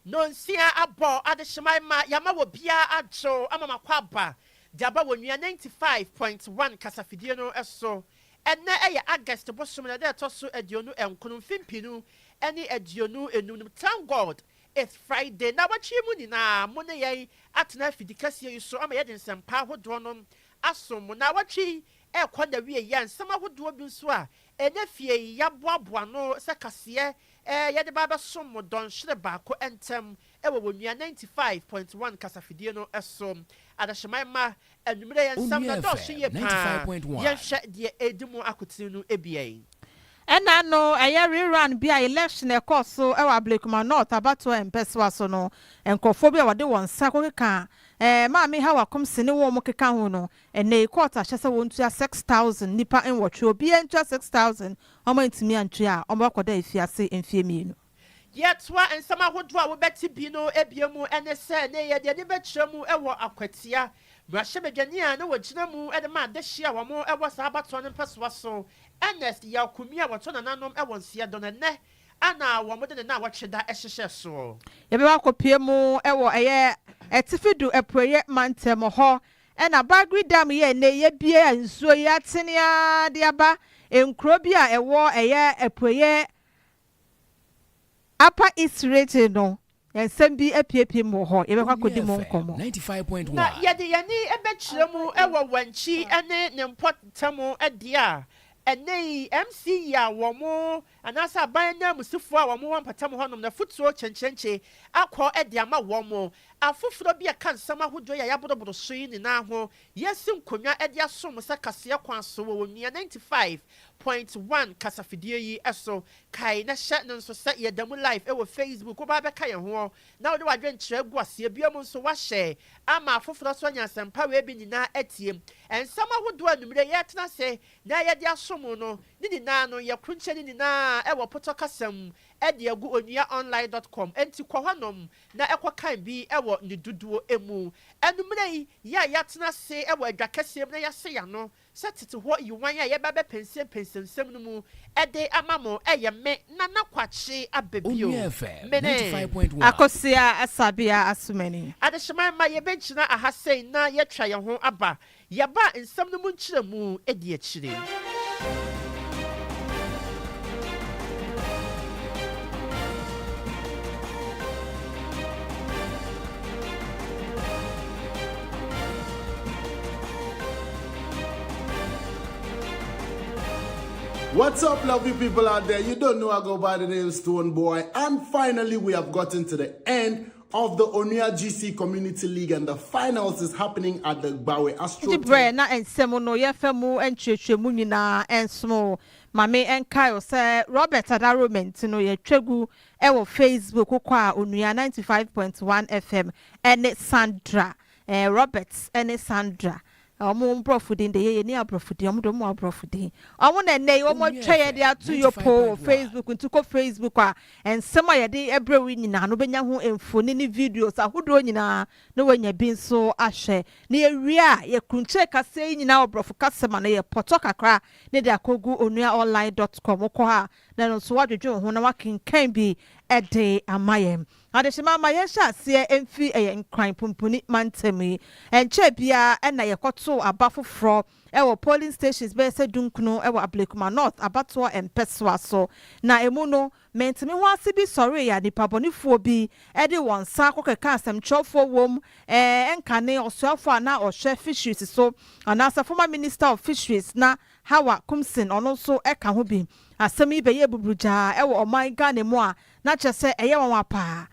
Nnɔnsia abɔ adehyeman ma yɛama wɔ biara adwo ama makɔ aba de aba wɔ Nua 95 point one kasafidie no so. Ɛnnɛ ɛyɛ August bosome no ɛda a ɛtɔ so aduonu nkono mfe mpenu ne aduonu enum nom thank God it's Friday. Nawɔtwe yi mu nyinaa mo ne yɛn atena afidi kɛseɛ yi so ama yɛde nsɛmpa ahodoɔ nom asom mu. Nnawɔtwe yi rekɔ n'awieeɛ a, nsɛm ahodoɔ bi nso a ɛnnɛ fie yi yɛaboaboa ano sɛ kaseɛ ɛɛ yɛde ba abɛsom mo dɔnhwere baako ntam wɔ wɔ Nua ninety five point one kasafidie no so. Adehyeman mma, anwummerɛ yɛn nsɛm no Onua dɔɔso FM yie ninety five paa. point one. Yɛnhwɛ deɛ ɛredi mu akoten no bi. Ɛnna no, ɛyɛ rerun bi a election a ɛkɔɔ so wɔ Ablekuma North abatoɔ mpɛsoa so no, nkurɔfoɔ bi a wɔde wɔn nsa kɔkeka eh, Maame Hawa Komse ne wɔn keka ho no, ɛnnɛ yi court ahyɛ sɛ wɔntua six thousand, nnipa nwɔtwe, obiara ntua six thousand, wɔantumi antua a, wɔbɛkɔda afiase mfeɛ mmienu. Yɛtoa nsɛm ahodoɔ a wobɛte bi no abien mu ne sɛ, ne yɛde ani bɛkyerɛ mu wɔ akwatia, mmarahyɛbadwani a na ɔgyina mu de ma adehyeɛ a wɔwɔ saa abatoɔ no mpɛsoa so, Ernest Yaokumia a wɔtɔ nananom wɔ Nseɛ Dɔn ɛnnɛ a na wɔde ne nnawɔtwe da hyehyɛɛ soɔ. Yɛbɛkɔ akɔpue mu wɔ ɛyɛ Atifi do Apueɛ mantam hɔ na Bagri Dam yɛ ɛnnɛ yɛabue a nsuo yi atene ara de aba nkuro bi a ɛwɔ ɛyɛ Apueɛ Apa Isreche no, nsɛm bi apuepue mu wɔ hɔ, yɛbɛkɔ akɔdi mu nkɔmmɔ. Na yɛde yɛn ani bɛkyerɛ mu wɔ Wankyi ne ne mpɔtam deɛ a ɛnnɛ yi MCE a wɔn, anaasɛ aban ananmusifoɔ a wɔn wɔ mpɔtam hɔnom no afotuo kyenkyenkye akɔ de ama wɔn. Afoforɔ bi a ɛka nsɛm ahodoɔ yi a yɛaboroboro so yi nyinaa ho Yɛasi nkonnwa de asom sɛ kaseɛ kwan so wɔ Onua ninety five point one kasafidie yi so. Kae na hyɛ no nso sɛ yɛda mu live wɔ Facebook. Woba abɛka yɛn ho na wode w'adwenkyerɛ agu aseɛ. Biom nso, woahyɛ ama afoforɔ nso anya asɛmpa wei bi nyinaa atie. Nsɛm ahodoɔ a anwummerɛ yi yɛretena ase na yɛde asom no ne nyinaa no, yɛkrunkyɛ ne nyinaa wɔ Potɔ kasa mu de agu onuaonline dot com. Enti kɔ hɔnom na ɛkɔ kan bi wɔ ne dodoɔ mu. Ɛno mmerɛ yi, yɛ a yɛatena ase wɔ adwa kɛseɛ mu na yɛasɛ yɛn ano sɛ tete hɔ yiwan a yɛba bɛpɛnsɛm pɛnsɛmsɛm no mu de ama mo yɛ me Nana Kwakye aba bio. Me ne. Akosua Asabea Asumani. Adehyema mma yɛbɛgyina aha sei na yɛatwa yɛn ho aba Yɛaba a nsɛm no mu nkyerɛmu di akyire. What's up lovely people out there, you don't know I go by the name Stonebwoy and finally we have gotten to the end of the Onua GC Community League and the finals is happening at the Gbawe Astro Enti berɛ na nsɛm no yɛfa mu nkyerɛkyerɛmu nyinaa nsono wo. Ma me nkae wo sɛ Robert Adaromenti no yɛtwa gu wɔ Facebook wokɔ a Onua ninety five point one FM ne Sandra eh, Robert ne Sandra Na wɔn mborɔfo din de, yɛyɛ nni aborɔfo din, wɔn de wɔn wɔ aborɔfo din. Wɔn na nnɛ yi wɔn atwa yɛn de ato Yopo wɔ Facebook, nti kɔ Facebook a, nsɛm a yɛde brɛ wo yi nyinaa no wobɛnya ho mfoni ne videos ahodoɔ nyinaa na wanya bi nso ahwɛ. Na yɛwie a, yɛkrunkyire kaseɛ yi nyinaa wɔ borɔfo kasa mu a na yɛ pɔtɔ kakra na de akɔgu onuaonline dot com, wokɔ hɔ a na ɛno nso woadwedwen wo ho na woakenkan bi de ama yɛn. Adehyema ma yɛnhyɛ aseɛ mfiri ɛyɛ Nkran pumpuni mantam yi. Ɛnkyɛɛ biara na yɛkɔtoo aba foforɔ wɔ polling stations bɛyɛ sɛ dunkron wɔ Ablekuma North abatoɔ mpɛsoa so. Na ɛmu no, menteme ho ase bi sɔreeɛ a nnipabɔnefoɔ bi de wɔn nsa kɔkeka asɛmtwerɛfoɔ wom nkane ɔsoafoɔ a na ɔhwɛ fisheries so anaasɛ former minister of fisheries na Hawa Kumsin ɔno nso ka ho bi. Asɛm yi bɛyɛɛ buburugyaa wɔ ɔman Ghana mu a Na kyerɛ sɛ ɛyɛ nwanwa paa.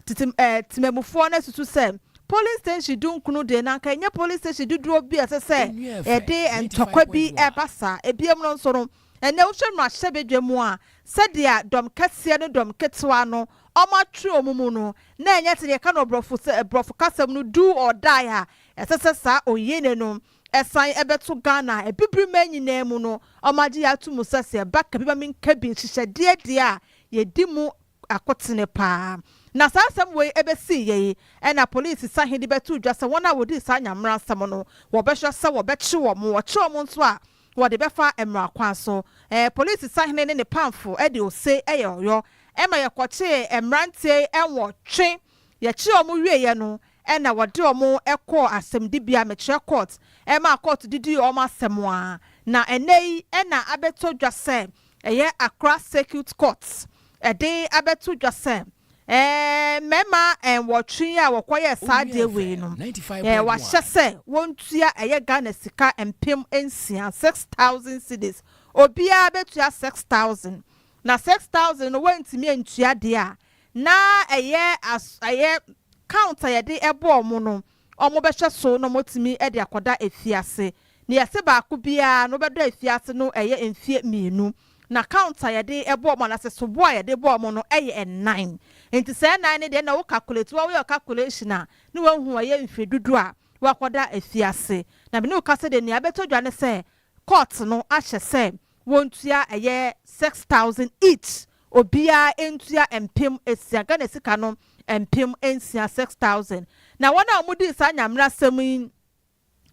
Tete eh, temammufoɔ no asusu sɛ polling station dunkron deɛ na anka ɛnyɛ polling station dodoɔ bi a ɛsɛ sɛ yɛde ntɔkwa bi ɛba saa. Ebiem no nso no, ɛnnɛ wohwɛ mmarahyɛbadwa mu a, sɛdeɛ dɔm kɛseɛ ne dɔm ketewa no wɔatwe wɔn mu no, na ɛnyɛ sɛdeɛ yɛka no wɔ borɔfo sɛ, borɔfo kasam no do or die a ɛsɛ sɛ saa ɔnyini no Ɛsan ɛbɛto Ghana a abibiri man nyinaa mu no wɔn agye yɛ ato mu sɛ sɛ ɛba ka bi ma me nka bi nhyehyɛdeɛ deɛ a yɛdi mu akotene paa. Na saa asɛm wei ɛbɛsii yɛ yi ɛna polisi sahe de bɛtoo dwa sɛ wɔn a wɔdii saa nyameransɛm no wɔbɛhwɛ sɛ wɔbɛkye wɔn, wɔkye wɔn nso a wɔde bɛfa mmara kwan so. Ɛɛ polisi sahene ne ne pamfo ɛde ose ɛyɛ ɔyɔ ɛma yɛkɔkyee mmeranteɛ yi ɛnwɔtwe. Yɛkyerɛɛ wɔn wieeɛ no na wɔde wɔn kɔɔ asɛmdibea, mekyerɛ court, maa court de dii wɔn asɛm a, na ɛnnɛ yi na abɛtɔ dwa sɛ ɛyɛ Accra Circuit Court de abɛto dwa sɛ mmarima nwɔtwe yi a wɔkɔyɛɛ saa adeɛ wei no, wɔahyɛ sɛ wɔntua ɛyɛ Ghana sika mpem nsia, six thousand cedis, obiara bɛtua six thousand, na six thousand no wɔantumi antua deɛ a, na ɛyɛ as ɛyɛ count a yɛde bɔ wɔn no, wɔbɛhwɛ so na wɔatumi de akɔda afiase. Nea yɛse baako biara na ɔbɛda afiase no yɛ mfeɛ mmienu, na count a yɛde bɔ wɔn anaa sɛ soboɔ a yɛde bɔ wɔn no yɛ nnan. Nti saa nnan no deɛ na wo calculate, woayɛ wo calculation a na woahu ɛyɛ mfeɛ dudu a wɔakɔda afiase. Na me ne wo ka sɛ deɛ nea ɛbɛtɔ dwa ne sɛ court no ahyɛ sɛ Wontua ɛyɛ six thousand each, obiara ntua mpem asia, Ghana sika no mpem nsia, six thousand. Na wɔn a wɔdii saa nyamerasɛm yi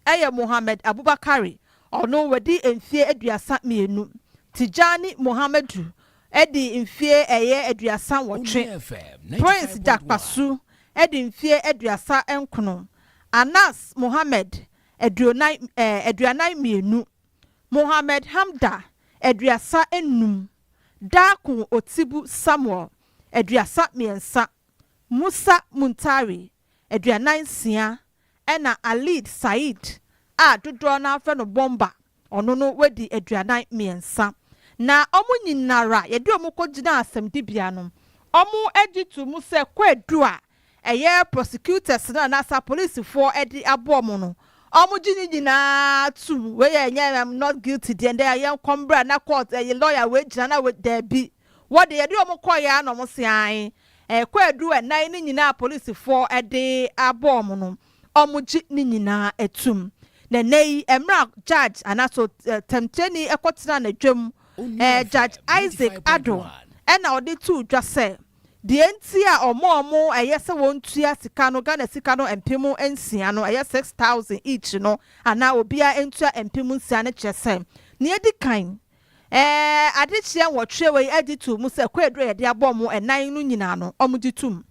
yɛ Mohammed Abubakari, ɔno wadi mfeɛ aduasa mmienu. Tijani Mohamadu adi mfeɛ ɛyɛ aduasa nwɔtwe, Prince Jakpasu adi mfeɛ aduasa nkono, Anas Mohammed aduonan, ɛɛ, aduanan mmienu. Mohammed Hamda, aduasa nnum, Darko Otsibu Samuel, aduasa mmiɛnsa, Musa Muntari, aduanan nsia, ɛna Alid Said a dodoɔ no ara frɛ no Bomba, ɔno no wadi aduanan mmiɛnsa. Na wɔn nyinara yɛde wɔn kɔgyinaa asɛmdibea no, wɔn gye to mu sɛ Kwadwo a ɛyɛ prosecutors no anaasa police foɔ ɛde aboɔ mo no ɔmo gye ne nyinaa tum wei yɛ ɛnyɛ am not guilty deɛ ndɛ yɛ nkɔ mbra na court ɛyɛ lawyer wei gyina na wei daabi wɔ deɛ yɛde ɔmo kɔɔyɛ ara na ɔmo se ae ɛkɔ ɛduru ɛnan ne nyinaa police foɔ ɛde aboɔ mo no ɔmo gye ne nyinaa atum na ɛnɛ yi ɛmra judge anaso tɛmkyerɛni ɛkɔ tena na dwam ɛɛ judge Isaac Addo ɛna ɔde too dwa sɛ. Deɛ nti a wɔn a wɔn ɛyɛ sɛ wɔn tua sika no Ghana sika no mpem nsia no, ɛyɛ six thousand each no, anaa obiara ntua mpem nsia no kyerɛ sɛ, nea edi kan, ɛɛ adekyeɛ nwɔtwe wei agye too mu sɛ Kwaadu a yɛde abɔ wɔn ɛnan no nyinaa no wɔgye tom.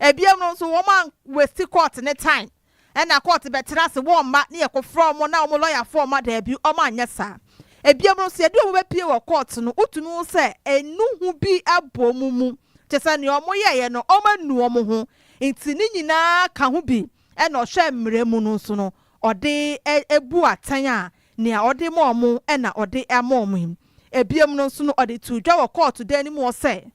Ɛbiam no nso wɔn an wasti court no time. Ɛna kɔɔte bɛtena ase wɔmma ne yɛkɔfrɛ ɔmo na ɔmo lɔyafoɔ ɔma daabi ɔmo anyɛ saa. Ebiom no sɛ yɛde ɔmo bɛpie wɔ kɔɔte no wotumi hu sɛ enu ho bi abɔ ɔmo mu kyesɛ nea ɔmo yɛeɛ no ɔmo anu ɔmo ho nti ne nyinaa ka ho bi ɛna ɔhwɛ mmrɛ mu no nso no ɔde bu atɛn a nea ɔde ma ɔmo ɛna ɔde ama ɔmo yi. Ebiom no nso no ɔde too dwa wɔ kɔɔto dan no mu hɔ sɛ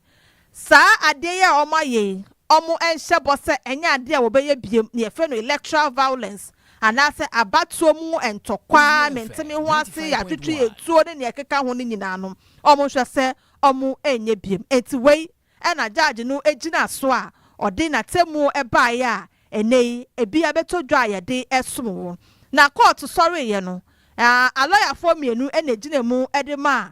Saa adeɛ yi a wɔn ayɛ yi, wɔn nhyɛ bɔ sɛ ɛnyɛ adeɛ a wɔbɛyɛ biom, nea yɛfrɛ no electoral violence, anaasɛ abatoɔ mu ntɔkwa, menteme ho ase, yɛatwetwe atuo ne nea ɛkeka ho no nyinaa no, wɔn nhwɛ sɛ wɔn nyɛ biom. Enti wei na Judge no gyina so a ɔde n'atemmuo baeɛ a ɛnnɛ yi ebi abɛtɔ dwa a yɛde resom wo. Na kɔɔto sɔreeɛ no, a alɔyafoɔ mmienu na ɛgyina mu de maa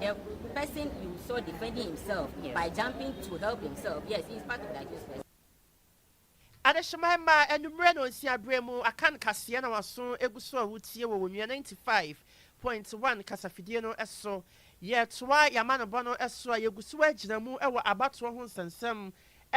The person you saw defending himself yeah. by jumping to help himself, yes, he is part of the accused person. Adehyema mma anwummerɛ na ɔnsia berɛ mu aka no kaseɛ na waso egu so a wotie wɔ Onua 95.1 kasafidie no so. Yɛretoa yɛn amanobɔ no so a yɛgu so agyina mu wɔ abatoɔ ho nsɛnsɛm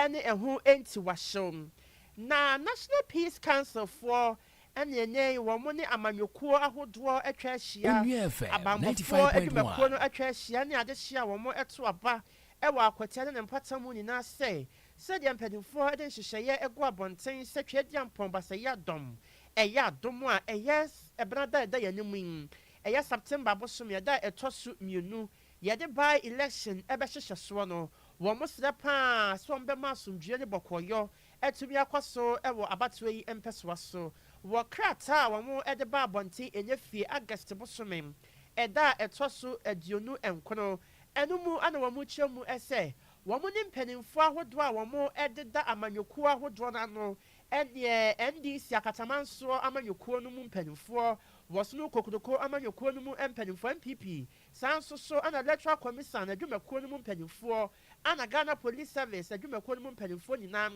ne ɛho ntiwahyew. Na National Peace Council foɔ Ɛne ɛnnɛ yi wɔn ne amanyɔkuo ahodoɔ atwa ahyia, abanbɔfoɔ adwumakuo no atwa ahyia ne adehyeɛ a wɔn to aba wɔ akwata ne ne mpata mu nyinaa sɛ sɛdeɛ mpaninfoɔ de nhyehyɛeɛ gu abɔnten sɛ Tweadiampɔn Basaayia Dɔm ɛyɛ adom a ɛyɛ ɛberɛ ada a ɛda yɛn anim yi ɛyɛ September bosome ɛda a ɛtɔ so mmienu yɛde by election bɛhyehyɛ soɔ no wɔn srɛ paa sɛ wɔn bɛma asomdwoeɛ ne bɔkɔɔyɔ atumi akɔ so wɔ abatoɔ yi mpɛsoa so. Wɔ krataa a wɔde baa abɔnten ɛnyɛ fie August bosome ɛda a ɛtɔ so aduonu nkono no mu na wɔkyerɛ mu sɛ wɔne mpanimfoɔ ahodoɔ a wɔdeda amanyɔkuo ahodoɔ no ano neɛ NDC Akatamansoɔ amanyɔkuo no mu mpanimfoɔ, Wɔsono Kokroko amanyɔkuo no mu mpanimfoɔ, NPP, saa nso so na Electoral Commisan adwumakuo no mu mpanimfoɔ, Ana Ghana Police Service adwumakuo no mu mpanimfoɔ nyinaa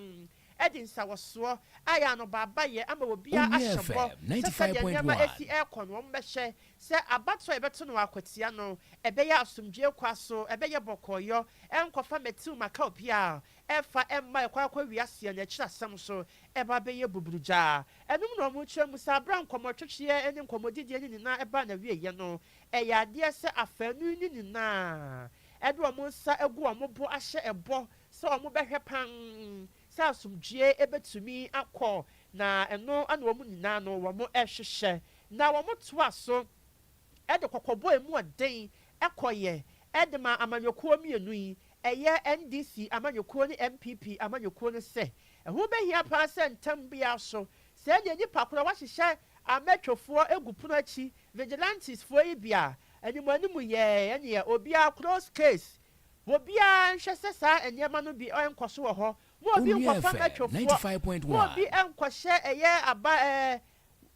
de nsawɔsoɔ ayɛ anobaabayɛ ama obiara ahyɛ bɔ sɛ sɛdeɛ nneɛma ɛsi ɛrekɔ no wɔn bɛhwɛ sɛ abatoɔ a yɛbɛto no akwatia no ɛbɛyɛ asomdwoeɛ kwa so ɛbɛyɛ bɔkɔɔyɔ ɛrenkɔfa mɛtiw maka obiara a ɛfa ɛmma ɛkɔ akɔ wia seɛ no akyiri asɛm so ɛba bɛyɛ buburugya ɛnom na wɔn kyerɛ mu saa berɛ a nkɔmmɔtwetweɛ ne nkɔmmɔdidie no nyinaa ɛbaa n'awieɛ no ɛyɛ adeɛ sɛ afaanu no nyinaa Ɛde wɔn nsa agu wɔn bo ahyɛ bɔ sɛ wɔbɛhwɛ pann sɛ asomdwoeɛ bɛtumi akɔ, na ɛno na wɔn nyinaa no wɔhwehwɛ. Na wɔtoa so de kɔkɔbɔ ɛmu ɔden kɔeɛ de maa amanyɔkuo mmienu yi, ɛyɛ NDC amanyɔkuo ne NPP amanyɔkuo no sɛ, ɛho bɛhia pa ara sɛ ntɛm biara so Sɛ yɛ nnipa koro a wɔahyehyɛ amɛtwefoɔ agu pono akyi, vigilantes, foɔ yi bi a, anim anim yɛɛ ɛneɛ obiara close case. Obiara nhwɛ sɛ saa nneɛma no bi ɛnkɔ so wɔ hɔ. Mo obi nkɔfa mɛtwefoɔ, mo obi nkɔhyɛ ɛyɛ aba ɛɛ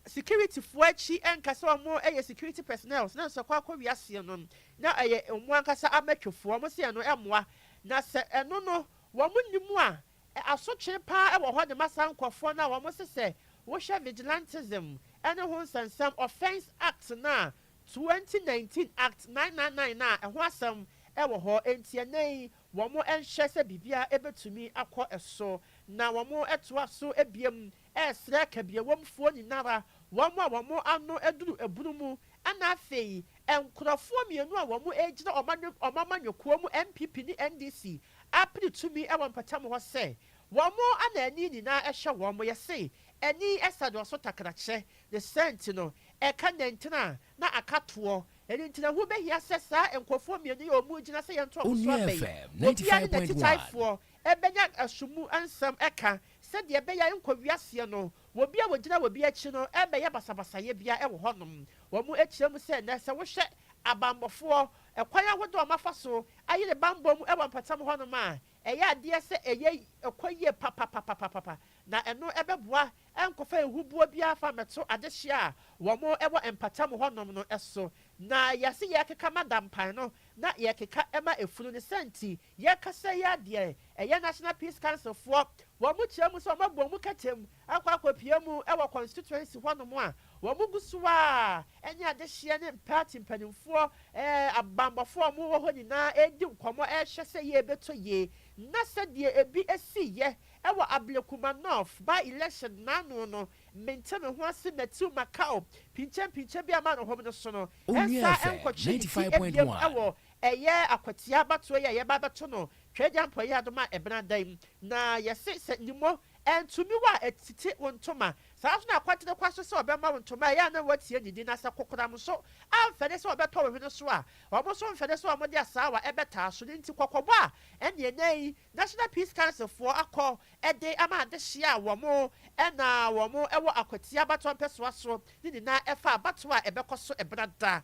security foɔ akyi nka sɛ wɔn yɛ security personnels na nso kɔ akɔ wia aseɛ no na ɛyɛ wɔn ankasa amɛtwefoɔ. Wɔn se ɛno ɛmmoa. Na sɛ ɛno no wɔn nni mu a, E Asotwe pa ara wɔ hɔ de ma saa nkurɔfoɔ no a wɔse sɛ wohwɛ vigilantism ne ho nsɛnsɛm, Offence Act no a, 2019 Act 999 no a ɛho asɛm wɔ hɔ. Enti ɛnnɛ yi wɔnhwɛ sɛ biribiara bɛtumi akɔ so na wɔtoa so biom ɛresrɛ kabiawɔmfoɔ nyinara, wɔn a wɔn ano aduru abunu mu, ɛna afei nkorɔfoɔ mmienu a wɔn regyina wɔn amanyɔkuo mu NPP ne NDC apere tumi wɔ mpɔtam hɔ sɛ wɔn na ani nyinaa ɛhwɛ wɔn, yɛse ani ɛsa dɔɔso takrakyɛ, ne saa nti no ɛka nantena na aka toɔ, ɛno nti na ɛho bɛhia sɛ saa nkorɔfoɔ mmienu yi a wɔn regyina sɛ yɛnto wɔn so aba yi, obiara ne natitaefoɔ ɛbɛnya ɛso mu nsɛm ɛka Sɛdeɛ ɛbɛyɛ a ɛrenkɔ wiaseɛ no, obi a ɔgyina obi akyi no rebɛyɛ basabasayɛ biara wɔ hɔnom. Wɔkyerɛ mu sɛ nnɛ, sɛ wohwɛ abanmmɔfoɔ, ɛkwan ahodoɔ a wɔafa so ayere bammɔ mu wɔ mpɔtam hɔnom a, ɛyɛ adeɛ sɛ ɛyɛ ɛkɔ yie papapapapapa, na ɛno bɛboa ɛrenkɔfa ahubuo biara mfa mmɛto adehyeɛ a wɔwɔ mpɔtam hɔnom no so. Na yɛse yɛrekeka ma dampan no, na yɛrekeka ma efunu no, saa nti Yɛkasa yi a deɛ ɛyɛ National Peace Council foɔ wɔn mo kyerɛ mu sɛ wɔn abɔ wɔn mu kɛtɛm akɔ akɔpue mu wɔ constituency hɔ nom a wɔn gu so a ɛne adehyeɛ ne party mpaninfoɔ ɛɛ abanbɔfoɔ a wɔn wɔ hɔ nyinaa ɛredi nkɔmɔ ɛrehwɛ sɛ yie bɛtɔ yie na sɛ deɛ ɛbi ɛsii yɛ ɛwɔ Ablekuma North by election naano no mente me ho ase Matthew Makao pinkyenpinkyen bi a ma no hom no so no ɛnsaa ɛnkɔtwe ne ti ɛbiem ɛwɔ Ɛyɛ akwatia abatoɔ yi a yɛba abɛto no Tweagyampɔ Yeadom a ɛbena da yi. Na yɛse sɛ Nimo antumi wo a ɛtete wo ntoma. Saa ara nso na Akwatere kwa so sɛ ɔbɛma wo ntoma a ɛyɛ a na woatie ne din. Na sɛ kokoram nso amfɛre sɛ ɔbɛtɔ wo hwene so a, wɔn nso mfɛre sɛ wɔde asaawa ɛbɛtaa so. Ne nti kɔkɔbɔ a ɛne ɛnnɛ yi National Peace Council foɔ akɔ de ama adehyeɛ a wɔn na wɔn wɔ akwatia abatoɔ mpɛsoa so ne nyinaa ɛfa abatoɔ a ɛbɛkɔ so ɛbena da.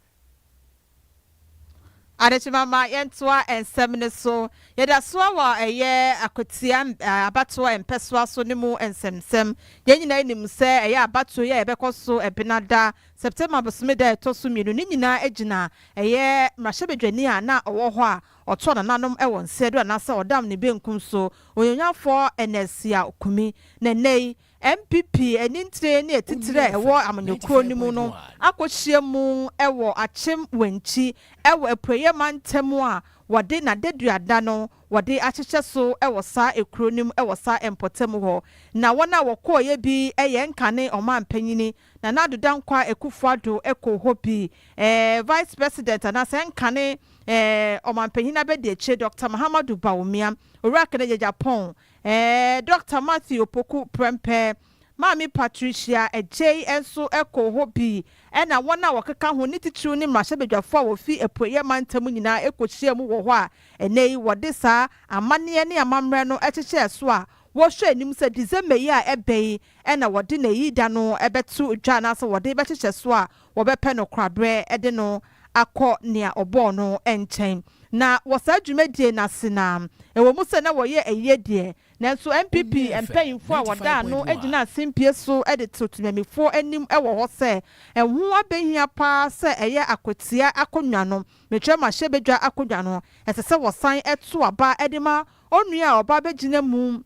Adekyema ma yɛntoa nsɛm no so. Yɛda so ara wɔ ɛyɛ Akwatia abatoɔ mpɛsoa so no mu nsɛmnsɛm. Yɛn nyinaa nim sɛ ɛyɛ abatoɔ yi a yɛbɛkɔ so Ɛbenada, September bosome da a ɛtɔ so mmienu, ne nyinaa gyina ɛyɛ mmarahyɛbadwani a na ɔwɔ hɔ a ɔtɔɔ nananom wɔ nsa du anaasɛ ɔdam ne benkum so, Onuonyamfoɔ Ernest Yaw Kumi. Na nnɛ yi, MPP anintire ne atitire a ɛwɔ Amanyɔ Kuro no mu no akɔhyia mu wɔ Akyem Wankyi wɔ Apueeɛ Mantam a wɔde n'adaduada no wɔde ahyehyɛ so wɔ saa ekuro no mu wɔ saa mpɔtam hɔ na wɔn a wɔkɔeɛ bi yɛ nkane ɔmanpanyini Nana Addo Dankwa Akufo Addo kɔɔ hɔ bi Vice President anaasɛ nkane ɔmanpanyini abɛdiakyire Doctor Mahamadou Bawumia Owura Kennedy Agyapong Ɛɛ Dɔkta Matthew Opoku Prempeh, Maame Patricia Adjei nso koo hɔ bi ɛna wɔn a wɔkeka ho ne titiriw ne mmarahyɛbadwafo a wɔfi Apueeɛ Mantam nyinaa kɔhyiaa mu wɔ hɔ a ɛnnɛ yi wɔde saa amanneɛ ne amammerɛ no kyekyɛɛ so a wɔhwɛ anim sɛ December yi a ɛbɛ yi na wɔde n'ayi da no bɛto dwa anaasɛ wɔde bɛkyekyɛ so a wɔbɛpɛ no koraberɛ de no akɔ nea ɔbɔɔ no nkyɛn. Na wɔ saa dwumadie no ase no ara, ɛwɔ mu sɛ na wɔyɛ ayie deɛ, nanso NPP mpaninfoɔ a wɔdaa ano gyina asempie so de to temanmufoɔ anim wɔ hɔ sɛ ɛho abɛhia pa ara sɛ ɛyɛ akwatia akonnwa no, Mekyerɛmahyɛbadwa akonnwa no, ɛsɛ sɛ wɔsan to aba de ma Onua a ɔba bɛgyina mu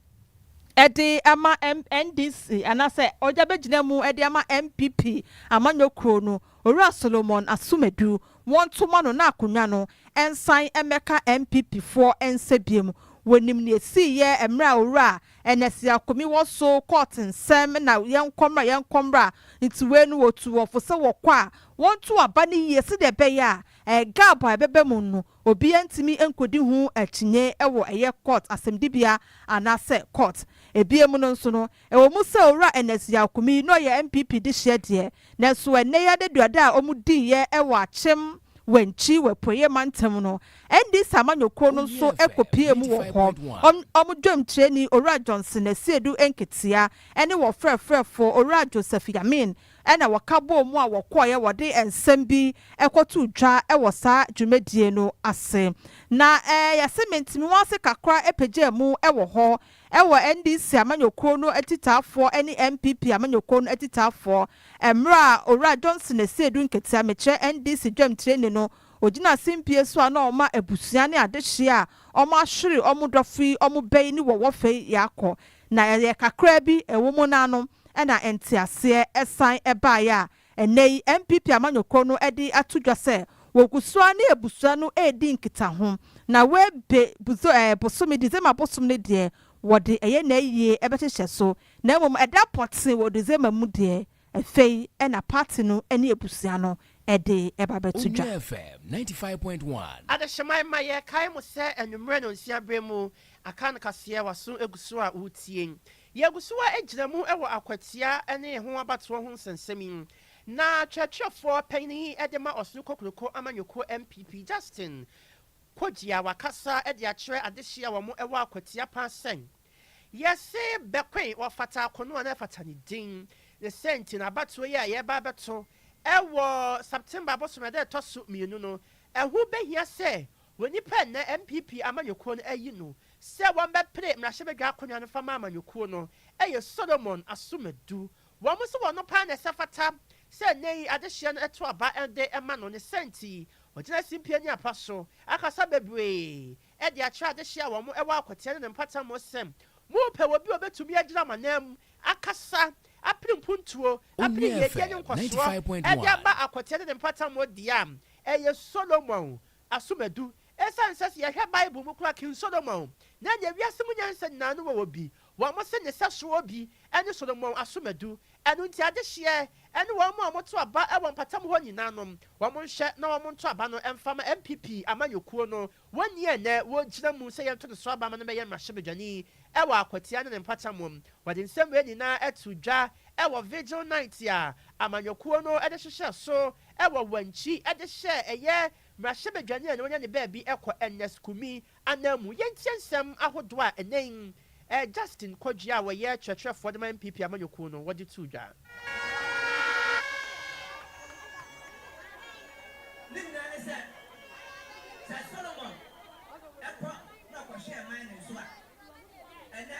de ama NDC anaasɛ ɔgya bɛgyina mu de ama NPP amanyɔ kuro no, Owura Solomon Asumadu, wɔnto ma no na akonnwa no nsan mmɛka NPP foɔ nsa biom. Wɔnim nea ɛsiiɛ mmerɛ a Owura Ernest Akomi wɔ so kɔɔ tensɛm na yɛnkɔ mmra yɛnkɔ mmra nti wei no wɔtu wɔn fo sɛ wɔkɔ a wɔnto aba no yie sɛdeɛ ɛbɛyɛ a gap a ɛbɛba mu no Obiara ntumi nkodi ho akyinnye wɔ ɛyɛ kɔɔt asɛmdibea anaasɛ kɔɔt. Ebia mu no nso no, ɛwɔ mu sɛ Owura Ernest Yaw Kumi na ɔyɛ NPP dehyeɛ deɛ, nanso ɛnnɛ yi adaduada a wɔdiiɛ wɔ Akyem Wankyi wɔ Apueeɛ Mantam no, NDC amanyɔkuo no nso kɔpuee mu wɔ hɔ. Wɔn dwamkyerɛni Owura Johnson Asiedu Nketeah ne wɔn frɛfrɛfoɔ Owura Joseph Yamin na wɔka bɔɔ mu a wɔkɔeɛ, wɔde nsɛm bi kɔtoo dwa wɔ saa dwumadie no ase. Na yɛse mentimi nwansi kakra pagyaa mu wɔ hɔ wɔ NDC amanyɔkuo no atitaafoɔ ne NPP amanyɔkuo no atitaafoɔ mmerɛ a Owura Johnson Asiedu Nketia, mekyerɛ NDC dwamtireni no, ɔgyinaa simpie so a na ɔma abusua ne adehyeɛ a wɔahwere wɔn dɔfo yi wɔn bɛ yi ne wɔn wɔfɛ yi akɔ Na ɛyɛ kakraa bi ɛwo mo no ano na nteaseɛ san baeɛ a ɛnnɛ yi NPP amanyɔkuo no de ato dwa sɛ wɔgu so ara ne abusua no redi nkitaho. Na wei be buzo ɛɛ bosome December bosom no deɛ wɔde ɛyɛ n'ayie bɛhyehyɛ so na mmom ɛda pɔtee wɔ December mu deɛ Afei na party no ne abusua no de ba bɛto dwa. Owura FM ninety five point one. Adehyema Emma yɛkae mo sɛ anwummerɛ nonsia berɛ mu Akan kaseɛ waso gu so a woretie. Yɛgu so ara gyina mu wɔ akwatia ne ɛho abatoɔ ho nsɛnsɛm yi na twerɛtwerɛfoɔ panin yi de ma Ɔsoro Kokroko Amanyɔkuo MPP Justin Kogyia wakasa de akyerɛ adehye a wɔn wɔ akwatia paa sɛ, Yɛse Bekoe wɔ Fata Ako no a na ɛfata ne din ne sɛ nti na abatoɔ yi a yɛreba abɛto wɔ September bosome ɛda a ɛtɔ so mmienu no ɛho bɛhia sɛ wɔ nipa a nnɛ NPP amanyɔkuo no ayi no sɛ wɔbɛpere mmarahyɛbadwa akonnwa no fa ma amanyɔkuo no yɛ Solomon Asomadu. Wɔn se wɔno paa na ɛsɛ fata sɛ nnɛ yi adehyeɛ no ɛto aba de ma no ne sɛ nti ɔgyina simpie ne apa so akasa bebree de akyerɛ adehye a wɔwɔ akwati ne ne mpata mu sɛ, Morepɛ obi a obetumi agyina mo ananmu, akasa, apere mpuntuo, apere yiedie ne nkɔsoɔ de aba akwati ne ne mpata mu deɛ a, ɛyɛ Solomon. Asom adu. Esiane sɛ, sɛ yɛhwɛ Bible mu koraa a, King Solomon, na ɛnyɛ wiase mu nyansa nyinaa no wɔ obi. Wɔse ne sɛso obi ne Solomon asomadu, ɛno nti adehyeɛ ne wɔn a wɔto aba wɔ mpatam hɔ nyinaa no, wɔn nhwɛ na wɔn nto aba no mfa ma NPP amanyɔkuo no, wɔnni a ɛnnɛ wɔgyina mu sɛ yɛnto no so aba ma no mmɛyɛ mmarahyɛbadwani wɔ Akwatia ne ne mpata mu. Wɔde nsɛm wei nyinaa too dwa wɔ Vigil Night a amanyɔkuo no de hyehyɛɛ so wɔ Wankyi de hyɛɛ ɛyɛ mmarahyɛbadwani a na wanya ne baabi kɔ Ernest Kumi Ananmu yɛntie nsɛm ahodoɔ a ɛnnɛ yi Ɛɛ Justin Kwadwo a ɔyɛ kyerɛkyerɛfoɔ de ma NPP amanyɔkuo no wɔde too dwa. Ne nyinaa ne sɛ, sɛ Solomon kɔ na ɔkɔhwɛɛ man no nso a, ɛnnɛ.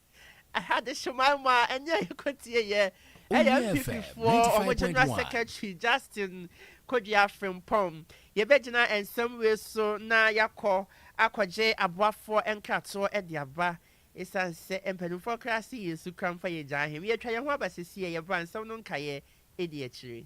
Adesomae mu a ɛnyɛ a yɛkɔtie yɛ ɛyɛ NPP foɔ wɔn General Secretary Justin Kodia Frimpong. Yɛbɛgyina nsɛm wei so na yɛakɔ akɔgye aboafoɔ nkratoɔ de aba ɛsiane sɛ mpanimfoɔ koraa se yɛn su kura mfa yɛgyaa he. Yɛatwa yɛn ho aba sesie a yɛba a nsɛm no nkaeɛ di akyire.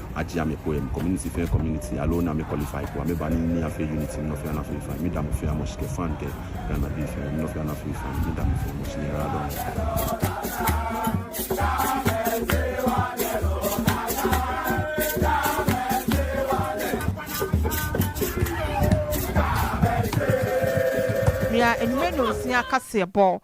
agye a me poe me community fɛ community alone a me qualify po a me ba ne nni afɛ unity nnɔfe a na fei fine me da mo fɛ a mo shke fan kɛ Ghana be fɛ nnɔfe a na fei fine me da mo fɛ mo shne era dɔ Nua anwummerɛ nonsia kaseɛbɔ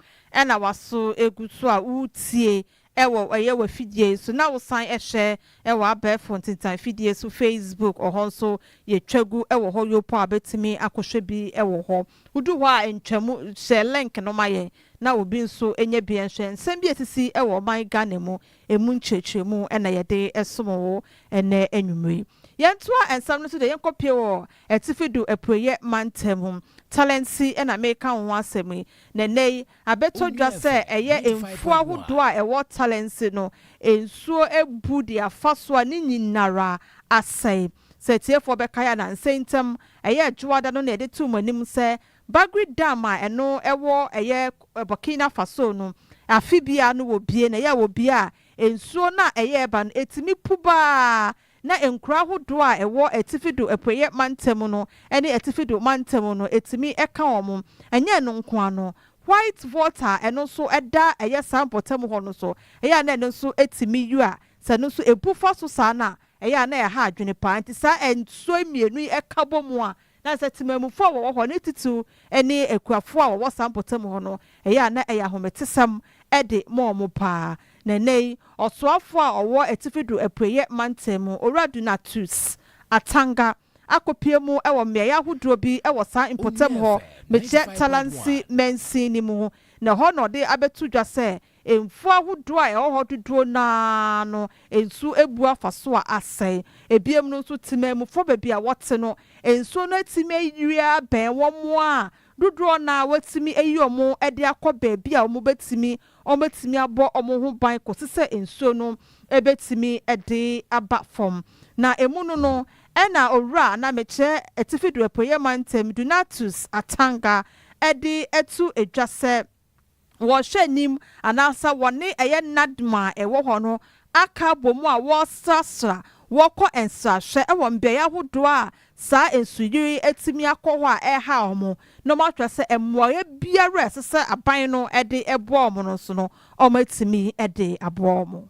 na waso gu so a woretie Ɛwɔ ɛyɛ w'afidie yi so na wo san ɛhyɛ ɛwɔ abɛɛfo ntintan fidie so Facebook ɔhɔ nso yɛ twa gu ɛwɔ hɔ yopɔ a bɛtumi akɔ hwɛ bi ɛwɔ hɔ wo du hɔ a ntwa mu hyɛ link no ma yɛn na obi nso nyɛ bi nhwɛ nsɛm bi ɛsisi ɛwɔ ɔman Ghana mu ɛmu nkyerɛkyerɛmu ɛna yɛde ɛsom wo ɛnɛ anwummerɛ yi yɛn toa nsɛm no so deɛ yɛn kɔ pie wɔ atifi do apueyɛ mantam mu Talentsi ɛna meka wo ho asɛm yi na ɛnɛ yi Abɛtɔ dwa sɛ ɛyɛ mfuo ahodoɔ a ɛwɔ Tallensi no nsuo abu de afa so a ne nyinara asɛe. Sɛ atiefoɔ bɛkae a, nansa ntam, ɛyɛɛ Dwoada no na yɛde too mo anim sɛ Bagri Dam a ɛno ɛwɔ ɛyɛ Burkina Faso no, afe biara no wɔbue na ɛyɛ a wɔbue a, nsuo no a ɛyɛ ɛba no ɛtumi pu baa na nkuraa ahodoɔ a ɛwɔ atifi do apueɛ mantam no ne atifi do mantam no tumi ka wɔn. Ɛnyɛ ɛno nko ara no, white water a ɛno nso da ɛyɛ saa mpɔtam hɔ no so, ɛyɛ a na ɛno nso tumi yua. Sɛ ɛno nso bu fa so saa no a, ɛyɛ a na ɛha adwene pa ara. Nti saa nsuo mmienu yi ka bɔ mu a, Na sɛ temamufo a wɔwɔ hɔ, ne titiriw ne akuafo a wɔwɔ saa mpɔtam hɔ no, ɛyɛ a na ɛyɛ ahometesɛm de ma wɔn paa. Na nnɛyi, ɔsoafo a ɔwɔ Atifi do Apueɛ Mantam mu, Owura Donatus Atanga, akopue mu wɔ mmeae ahodoɔ bi wɔ saa mpɔtam hɔ, mekyɛ Talansi mansin no mu, na ɛhɔ na ɔde abɛto dwa sɛ Mfuw ahodoɔ a ɛwɔ hɔ dodoɔ no ara no nsuo abu afa so a asɛe. Ebiem no nso, temanmufoɔ baabi a wɔte no, nsuo no atumi ayiri abɛn wɔn a dodoɔ no ara wɔatumi ayi wɔn de akɔ baabi a wɔbɛtumi wɔatumi abɔ wɔn ho ban kɔsi sɛ nsuo no bɛtumi de aba fam. Na emu no no, ɛna Owura a na mekyɛ Atifi do Apueɛ Mantam, Donatus Atanga de to dwa sɛ, wɔhwɛ anim anaasɛ wɔne ɛyɛ Nadma a ɛwɔ hɔ no aka abom a wɔresrasra, wɔkɔ nsrahwɛ wɔ mbeae ahodoɔ a saa nsuyiri yi atumi akɔ hɔ a ɛrehaw wɔn na wɔahwɛ sɛ mmoaeɛ biara a ɛsɛ sɛ aban no de boa wɔn no nso no, wɔatumi de aboa wɔn.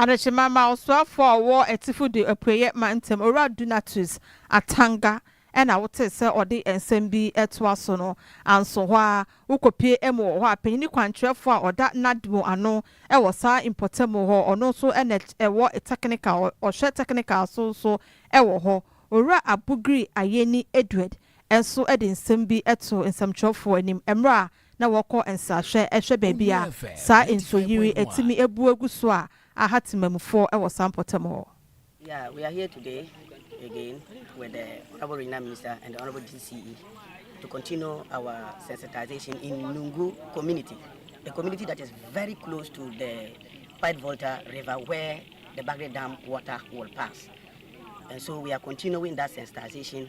Adekyema ma ɔsoafo a ɔwɔ atifi de apueeɛ ma ntam owura Donatus Atanga na wotee sɛ ɔde nsɛm bi retoa so no, anso hɔ ara wokɔpue amu wɔ hɔ a panyini kwankyerɛfoɔ a ɔda Nadmo ano wɔ saa mpɔtamu hɔ, ɔno nso na ɛwɔ technical, ɔhwɛ technical so nso wɔ hɔ, Owura Abugiri Ayeni Edward nso de nsɛm bi too nsɛmtwerɛfoɔ anim mmerɛ a na wɔkɔ nsrahwɛ hwɛ baabi a saa nsu yiri atumi abu agu so a aha temamufo wɔ saa mpɔtam hɔ. Yeah, we are here today again with the Honorable Regional Minister and the Honorable DCE to continue our sensitization in Nungu community, a community that is very close to the White Volta River where the Bagre Dam water will pass. And so we are continuing that sensitization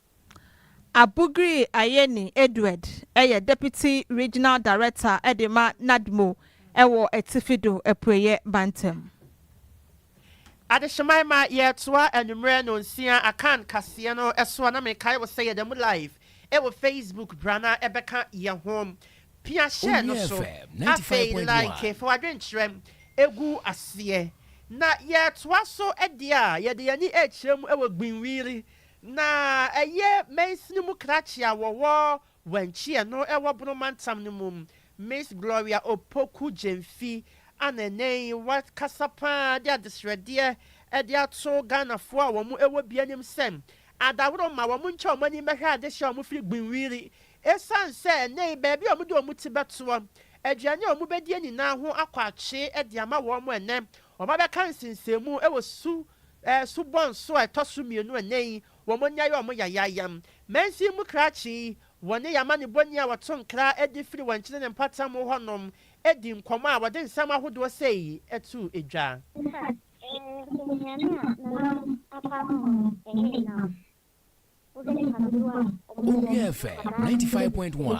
Abugri Ayeni Edward yɛ Deputy Regional Director de ma Nadmo wɔ Atifi do Apueɛ Mantam. Adehyemae ma yɛtoa anwummerɛ nonsia Akan kaseɛ no so a na mekae wo sɛ yɛda mu live wɔ Facebook bra na bɛka yɛ ho pia share no so afei like fa w'adwenkyerɛ gu aseɛ na yɛtoa so deɛ a yɛde yɛn ani rekyerɛ mu wɔ Gbinwiri Na ɛyɛ mansini mu krakye a wɔwɔ Wanchia no ɛwɔ Bono mantam no mu. Miss Gloria Opoku Gyamfi a na ɛnnɛ yi wakasa pa ara de adesrɛdeɛ de ato Ghanafoɔ a wɔn wɔ bi anim sɛ adaworo mma wɔn ntwa wɔn ani mmɛhwɛ adehyeɛ a wɔfiri Gbenwiri ɛsiane sɛ ɛnnɛ yi baabi a wɔde wɔn ti bɛtoɔ, aduane a wɔbɛdie nyinaa ho akɔ atwe de ama wɔn ɛnnɛ wɔabɛka nsensɛnmu wɔ su Ɛso bɔ nso a ɛtɔ so mmienu ɛnnɛ yi, wɔnya yɛ wɔn yayaayam. Mansin mu krakye yi, wɔne yɛn amanebɔni a wɔto nkra de firi wɔn nkyene ne mpɔtam hɔ nom di nkɔmmɔ a wɔde nsɛm ahodoɔ sei to dwa. Fa nnuane a nam apa ho no ne nam. Wobɛdi hadodoɔ a wɔde Owia FM ninety five point one.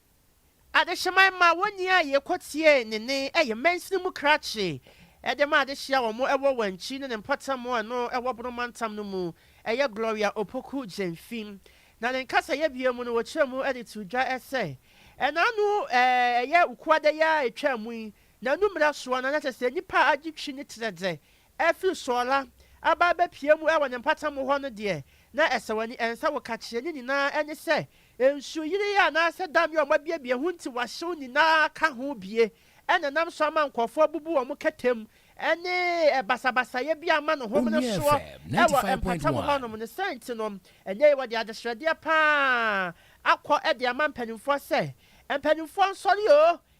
Adehyeman ma wɔnni a yɛkɔteɛ ne nne yɛ mansini mu krakye de ma adehye a wɔn wɔ Wankyi ne ne mpɔtam a ɛno wɔ Bono mantam no mu yɛ Gloria Opoku Gyamfi na ne nkasayɛ bio mu no wɔkyerɛ mu de too dwa sɛ na ano yɛ Wukuada yi a ɛtwaa mu yi na anummerɛ soɔ no na kyerɛ sɛ nnipa agye twi ne terɛ dɛ Afi Sɔɔla aba abɛpue mu wɔ ne mpata mu hɔ no deɛ, na ɛsɛ w'ani ɛnsɛ wo kakyeɛ ne nyinaa ɛne sɛ nsuo yireɛ anaasɛ dam yi a wɔabuebue ho nti wɔahyew nyinaa ka ho bue ɛna ɛnam so ama nkorɔfoɔ abubu wɔn kɛtɛ mu ɛne basabasayɛ bi ama no home no soɔ ɛwɔ mpata mu hɔ nom no sɛ nti no ɛnɛ yi wɔde adesrɛdeɛ pa ara akɔ de ama mpaninfoɔ sɛ mpaninfoɔ nsɔre oo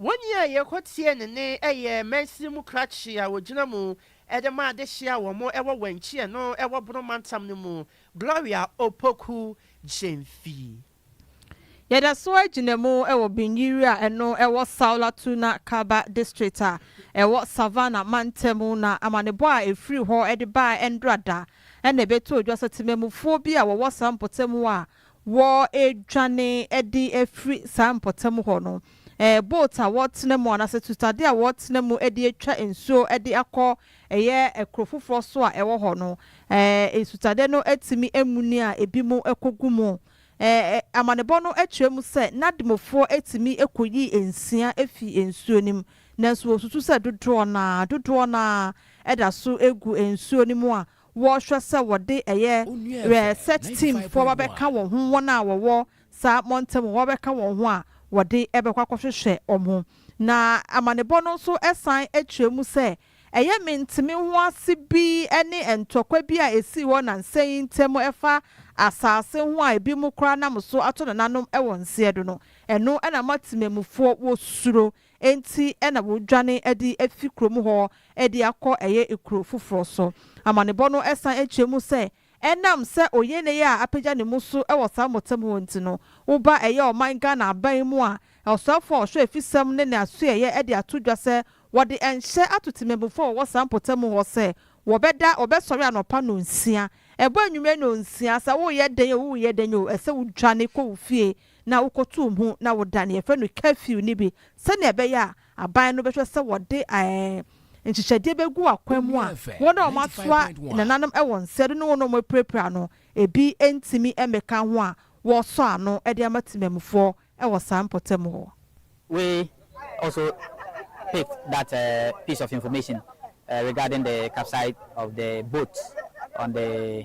Wɔn a yɛkɔ tie ne nne yɛ mansini mu krakye a wɔgyina mu de ma adehye a wɔn wɔ Wanchi ɛno wɔ Bono mantam no mu, Gloria Opoku Gyamfi. Yɛda so ara gyina mu wɔ Binyiri a ɛno wɔ Saolatuna Kaba district a ɛwɔ Savannah mantam mu na amanebɔ a ɛfiri hɔ de baɛ ɛndora da na ɛbɛtoo dwa sɛ temammufoɔ bi a wɔwɔ saa mpɔtam hɔ a Wɔredwane de afiri saa mpɔtam hɔ no, boat a wɔretena mu anaasɛ tutade a wɔretena mu de atwa nsuo de akɔ ɛyɛ kuro foforɔ so a ɛwɔ hɔ no, nsutade no atumi amuni a ebinom kɔgu mu. Amanebɔ no kyerɛ mu sɛ Nadmofoɔ tumi kɔyi nsia firi nsuo no mu, nanso wɔsusu sɛ dodoɔ no ara, dodoɔ no ara da so gu nsuo no mu a wɔhwɛ sɛ wɔde ɛyɛ research team foɔ ba bɛka wɔn ho, wɔn a wɔwɔ saa mmɔntɛm hɔ bɛka wɔn ho a wɔde bɛkɔ akɔhwehwɛ wɔn. Na amanebɔ no nso san kyerɛ mu sɛ, ɛyɛ menteme ho ase bi ne ntɔkwa bi a ɛsii hɔ nansa yi ntam ɛfa asaase ho a ebinom koraa nam so ato nananom wɔ nseɛdo no, ɛno na ama temamufoɔ wɔsuro Enti na wɔdwane de afi kurom hɔ de akɔ ɛyɛ kuro foforɔ so. Amanebɔ no san kyerɛ mu sɛ, ɛnam sɛ Oyene a apagya ne mu so wɔ saa mmɔtam hɔ nti no, wo ba ɛyɛ ɔman Ghana aban mu a ɔsoafoɔ a ɔhwɛ afisɛm ne ne asoɛeɛ de ato dwa sɛ wɔde nhyɛ ato temammufoɔ a wɔwɔ saa mpɔtam hɔ sɛ wɔbɛda wɔbɛsɔre anɔpa nnɔnsia ɛbɔ anwummerɛ nnɔnsia sɛ woyɛ dɛn o woyɛ dɛn o ɛsɛ wodwane kɔ wo fie na wokɔtoo mu na woda nea yɛfrɛ no curfew no bi sɛnea ɛbɛyɛ a aban no bɛhwɛ sɛ wɔde nhyehyɛdeɛ bɛgu akwan mu a wɔn a wɔasoa nananom wɔ nsa de ne wɔn a wɔapirapira no bi ntumi mmɛka ho a wɔresɔ ano de ama temammufoɔ wɔ saa mpɔtam hɔ. We also picked that piece of information regarding the capside of the boat on the.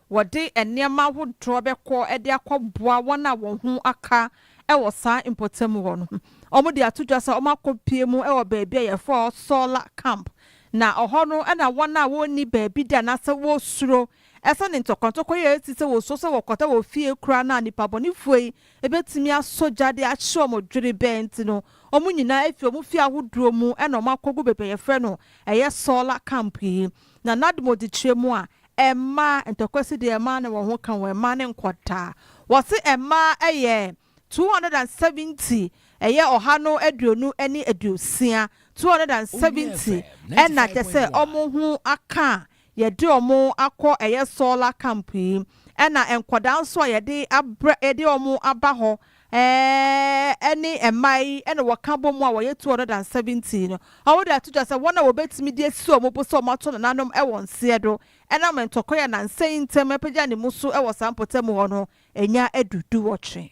Wɔde nneɛma ahodoɔ bɛkɔ de akɔboa wɔn a wɔn ho aka wɔ saa mpɔtam hɔ no. Wɔde ato dwa sɛ wɔakɔpue mu wɔ baabi a yɛfrɛ hɔ Sola Camp, na ɛhɔ no na wɔn a wɔnni baabi da anaasɛ wɔsuro ɛsiane ntɔkɔntɔkɔ yi a ɛresi sɛ wɔsuro sɛ wɔkɔda wɔ fie koraa no a nnipabɔnefoɔ yi bɛtumi asɔ gya de ahye wɔn dwerebɛn nti no, wɔn nyinaa fi wɔn fie ahodoɔ mu na wɔakɔgu baabi a yɛfrɛ no ɛyɛ Sola Camp yi. na n'ademudekyerɛ mu a, mmaa, ntɔkwa si deɛ mmaa ne wɔn ho ka wɔn, mmaa ne nkwadaa. Wɔse mmaa yɛ 270, ɛyɛ ɔha no aduonu ne aduosia, 270, ɛna kyerɛ sɛ wɔn ho aka a yɛde wɔn akɔ ɛyɛ solar camp yi, ɛna nkwadaa nso a yɛde abrɛ, yɛde wɔn aba hɔ Ɛɛ, ɛne mma yi na wɔka bom a wɔyɛ 217 no. Wɔde ato dwa sɛ wɔn a wɔbetumi de asi wɔn bo sɛ wɔato nananom wɔ nseɛ do nam ntɔkwa yi a nnansa yi ntam apagya ne mu so wɔ saa mpɔtam hɔ no anya adu duwɔtwe.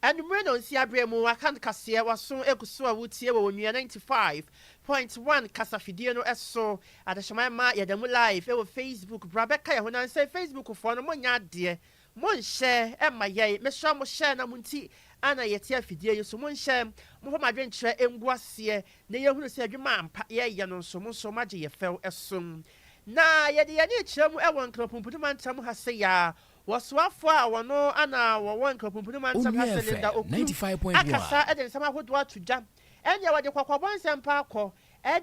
Anwummere nnɔnsia bere mu wɔaka no kaseɛ, w'aso gu so a woretie wɔ Onua 95.1 kasafidie no so. Adehyema mma yɛda mu live wɔ Facebook, bra bɛka yɛn ho nansa yi Facebook foɔ no monyɛ adeɛ monhyɛ mma yɛn, mesrɛ mo hyɛ na mo nti ana yɛte afidie yi so, monhyɛ, momfa mo adwenkyerɛ ngu aseɛ na yɛhunu sɛ adwuma ampa yɛreyɛ no nso mo nso moagye yɛn fɛw so. Na yɛde yɛn ani rekyerɛ mu wɔ Nkrapumpudu mantam ha sɛ yɛa Wɔsoafoɔ a wɔno ana wɔwɔ Nkapumpuni Mantam ha Onua FM Cylinder Oku 95.1. akasa de nsɛm ahodoɔ ato dwa ɛneɛ wɔde kɔkɔbɔ nsɛmpa akɔ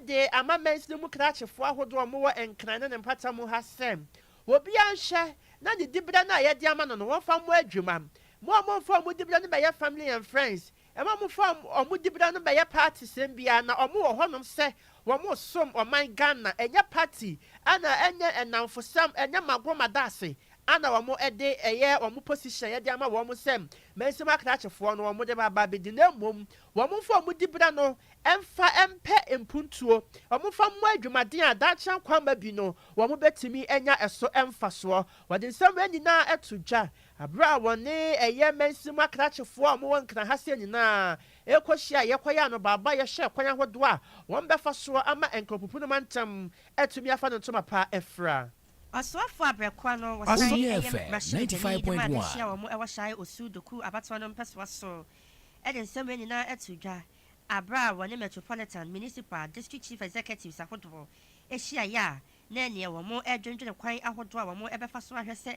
de ama mansini mu krakyefoɔ ahodoɔ a wɔwɔ Nkran ne ne mpata mu ha sɛ obiara nhwɛ na ne diberɛ no a yɛde ama no no wɔmfa mmɔ adwuma. Mo a momfa mo diberɛ no mmɛyɛ family and friends Ɛma wɔfa wɔn dibea no bɛyɛ party sɛm bi ara na wɔn wɔ hɔnom sɛ wɔn resom ɔman Ghana. Ɛnyɛ party ɛna ɛnyɛ ɛnamfosɛm ɛnyɛ magoro madaase ɛna wɔn ɛde ɛyɛ wɔn position yɛde ama wɔn sɛ mansɛm akrakyefoɔ no wɔn de ba ba bedi na mmom wɔn nfa wɔn dibea no ɛnfa ɛmpɛ mpuntuo wɔn nfa mmɔ adwumaden a daakye ankwamma bi no wɔn bɛtumi anya ɛso ɛnfasoɔ wɔde nsɛm wei nyinaa ɛto dwa Bere a wɔne ɛyɛ mansin mu akrakyefoɔ a wɔwɔ Nkran ha sɛɛ nyinaa rekɔhyia a yɛkɔyɛ anobaabaeɛ yɛhwɛɛ kwan ahodoɔ a wɔbɛfa soɔ ama Nkrɔpupu no mantam atumi afa ne ntoma pa afira. Ɔsoafoɔ abrɛkoa no wɔ Sae Ɔsoeɛ ɛyɛ fɛ, mmarahyɛbadwani ninety five dwuma point a ɛbɛhyia one. wɔn wɔ Sae Osu Dokuo abatoɔ no mpɛsoa so de nsɛm wei nyinaa too dwa bere a wɔne Metropolitan, Municipal, District Chief Executives ahodoɔ hyiaeɛ a na ɛneɛ wɔn redwendwene kwan ahodoɔ a wɔbɛfa so ahwɛ sɛ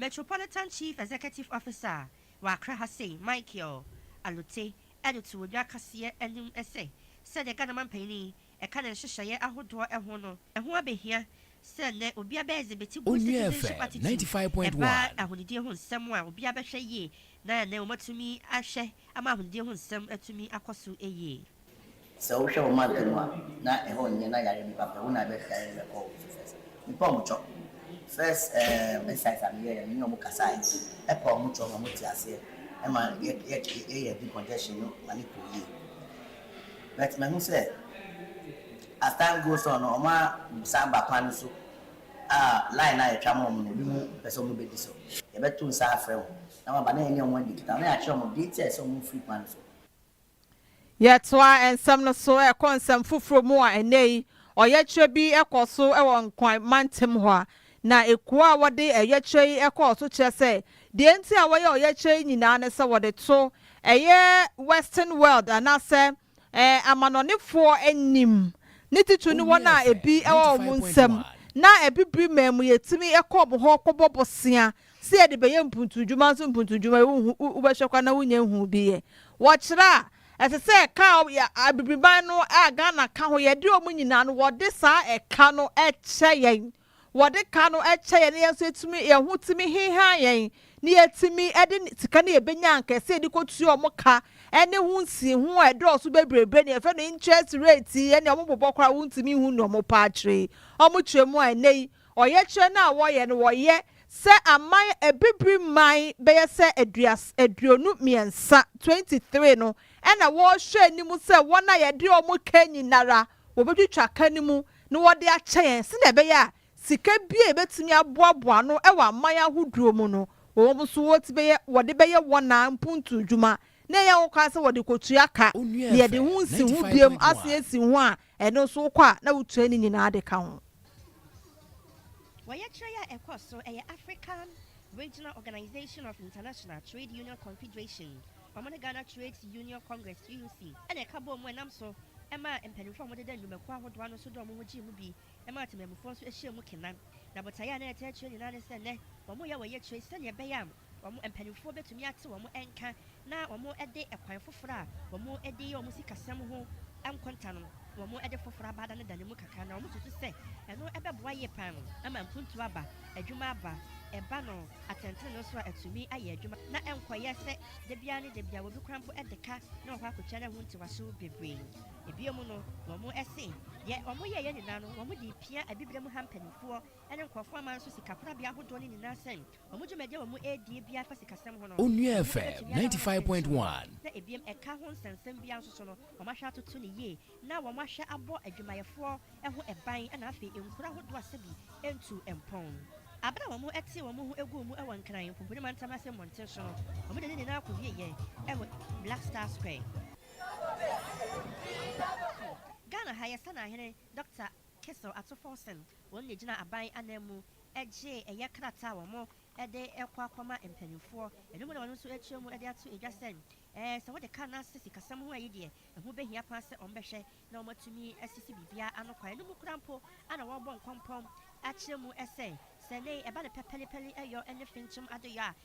Metropolitan Chief Executive Officer a wɔ Accra ha sei, Michael Alute de too dwa kaseɛ anim sɛ, sɛdeɛ Ghana manpanin yi ka ne nhyehyɛeɛ ahodoɔ ho no, ɛho abɛhia sɛ nnɛ obiara bɛ exhibit good citizenship attitude ɛba ahonidie ho nsɛm a obiara bɛhwɛ yie na nnɛ wɔatumi ahwɛ ama ahonidie ho nsɛm atumi akɔ so yie. Sɛ wo hwɛ wo mantam mu a na ɛhɔ nyɛ na yare nnipa pɛ, wo na ɛbɛ yare no bɛkɔ wo so first. Me pɛ ɔmo kyɔ. First ehm exercise a me yɛɛ yɛ me ne ɔmo kasae ɛpɛ ɔmo kyɔ ma ɔmo te aseɛ ɛma yɛ yɛ yɛyɛ decongestion no ma no kɔ yie. But mahu sɛ as time goes on no ɔmo a san ba kwan no so a line no a yɛtwa ma ɔmo no ebi mo mpɛ sɛ ɔmo bɛ di so. Yɛbɛ to nsa afrɛ ɔmo na ɔmo aba na yɛne ɔmo adi nkita ho na yɛakyerɛ ɔmo deɛ nti a ɛsɛ ɔmo fri kwan no so. Yɛtoa nsɛm no so kɔ nsɛm foforɔ mu a, ɛnnɛyi ɔyɛkyerɛ bi kɔ so wɔ Nkran mantam hɔ a, na ekuo a wɔde ɛyɛkyerɛ yi kɔɔ so kyerɛ sɛ deɛ nti a wɔyɛ ɔyɛkyerɛ yi nyinaa ne sɛ wɔde to ɛyɛ Western world anaasɛ amanɔnefoɔ anim, ne titire no wɔn a ebi wɔ wɔn nsam na Abibire man mu yɛtumi kɔ wɔn hɔ kɔbɔ bosea Sɛ yɛde bɛyɛ mpuntuudwuma nso mpuntuudwuma yi wonhu wobɛhwɛ kwa na wonnya nhuu bi yɛ. Wɔkyerɛ a, ɛsɛ sɛ ɛka a yɛ Abibiriman no a Ghana ka ho yɛde wɔn nyinaa no wɔde saa ɛka no kyɛ yɛn. Wɔde ka no kyɛ yɛn na yɛn nso yɛtumi yɛn ho tumi heha yɛn na yɛtumi de sika no yɛbɛnya ankɛse yɛde kɔtua wɔn ka ne ho nsiho a ɛdɔɔso bebrebe ne yɛfrɛ no interest rate yi ne wɔn bobɔ koraa wontumi nhu ne wɔn paa kyerɛ yi wɔn kyerɛ mu a ɛnɛ yi Ɔyɛkyerɛ no a wɔyɛ no wɔyɛ sɛ aman abibiri man bɛyɛ sɛ aduas aduonu mmiɛnsa, 23, no na wɔrehwɛ anim sɛ wɔn a yɛde wɔn kɛn nyinara wɔbɛtwitwa ka no mu na wɔde akyɛ yɛn sɛdeɛ ɛbɛyɛ a sika bi a yɛbɛtumi aboaboa ano wɔ aman ahodoɔ mu no wɔn nso wɔti bɛyɛ wɔde bɛyɛ wɔn a mpuntuo adwuma na ɛyɛ ho kwan sɛ wɔde kɔtua ka na yɛde ho nsi ho biom asan asi ho a Ɛno nso wokɔ a na wotua ne nyinaa de ka ho. Ɔyɛkyerɛ yi a ɛkɔ so, ɛyɛ African Regional Organization of International Trade Union Confederation, wɔn ne Ghana Trades Union Congress, GUC, na ɛka bɔɔ mu nam so maa mpaninfoɔ a wɔn deda nnwumakuo ahodoɔ ano nso de wɔn ho gyee mu bi maa temanmufoɔ nso hyɛɛ mu kena. Na botaeɛ a na ɛtaa kyerɛ nyinaa ne sɛ nnɛ wɔyɛ ɔyɛkyerɛ yi sɛdeɛ ɛbɛyɛ a Wɔn mpanimfoɔ bɛtumi ate wɔn nka na wɔde ɛkwan foforɔ a wɔde yɛ wɔn sikasɛm ho nkonta no, wɔde foforɔ aba da no da no mu kakra na wɔsusu sɛ ɛno bɛboa yie pa ara ama mpuntuo aba, adwuma aba, ɛba no atɛntenenee so a atumi ayɛ adwuma na ɛnkɔyɛ sɛ da biara ne da biara wɔbɛkura mpo de ka na wɔkɔ akɔtua no ɛho ntiwaso bebree. Bio no, wɔse deɛ wɔyɛeɛ nyinaa no wɔde repia abibire mu ha mpanimfoɔ ne nkorɔfoɔ aman so sika korabea ahodoɔ no nyinaa sɛ Wɔn dwumadie a wɔn ɛredie biara fa sikasɛm ho no, Onua wɔn FM bɛtumi ayɛ wɔn asɛm titiriw no. 95.1. Sɛ ɛbiam ɛka ho nsɛnsɛm biara nso so no, wɔn ahwɛ atoto no yie na wɔn ahwɛ abɔ adwumayɛfoɔ ho ban na afei nkuro ahodoɔ a sɛbi ntu mpɔn. Aberɛ a wɔn ɛtee wɔn ho guu mu wɔ Nkran Mponponi Mantam ase mmɔnten so no, wɔn de ne nyinaa kɔ wieɛ wɔ Black Star Square. Ghana ha yɛ Sanaa hene Dɔkta Kessel Ato Forson wɔn na ɛgyina aban ananmu gye ɛyɛ krataa a wɔde kɔ akɔma mpanimfoɔ, ɛno mu na wɔn nso rekyerɛ mu de ato dwa sɛ sɛ wɔde ka no ase sikasɛm ho a ɛyi deɛ ɛho bɛhia paa sɛ wɔbɛhwɛ na wɔatumi asisi biribiara ano kwan, ɛno mu koraa mpo na wɔrebɔ nkɔmpɔn akyerɛ mu sɛ sɛ nnɛ yi ɛba no pɛpɛlepɛle yɔ ne fenkyem adeyɔ a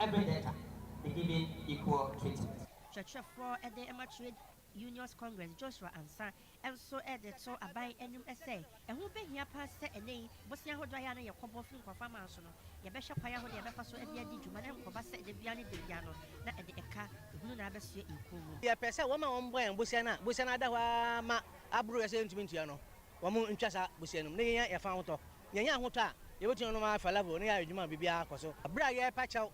Every data be given equal treatment. Kyerɛkyerɛfoɔ de ma Trade Unions Congress Joshua Ansah nso de to aban anim sɛ, ɛho bɛhia pa ara sɛ ɛnnɛ yi bosea ahodoɔ a ɛyɛ a na yɛkɔbɔ firi nkurɔfoɔ aman so no, yɛbɛhwɛ kwan ahodoɔ a yɛbɛfa so de adi dwuma na ɛnkɔba sɛ da biara ne da biara no na ɛde ɛka hunu na abɛsoɛ yɛn kɔn mu. Yɛpɛ sɛ wɔn a wɔbɔ yɛn bosea no a bosea no ada hɔ ara ma aboro yɛ sɛ yɛntumi ntua no, wɔntwa saa bosea no mu na yɛnya yɛn fa ahotɔ Yɛanya ahotɔ a, yebetumi anom ara falafel na yɛayɛ adwuma a biribiara kɔ so. Bere a yɛrepa kyɛw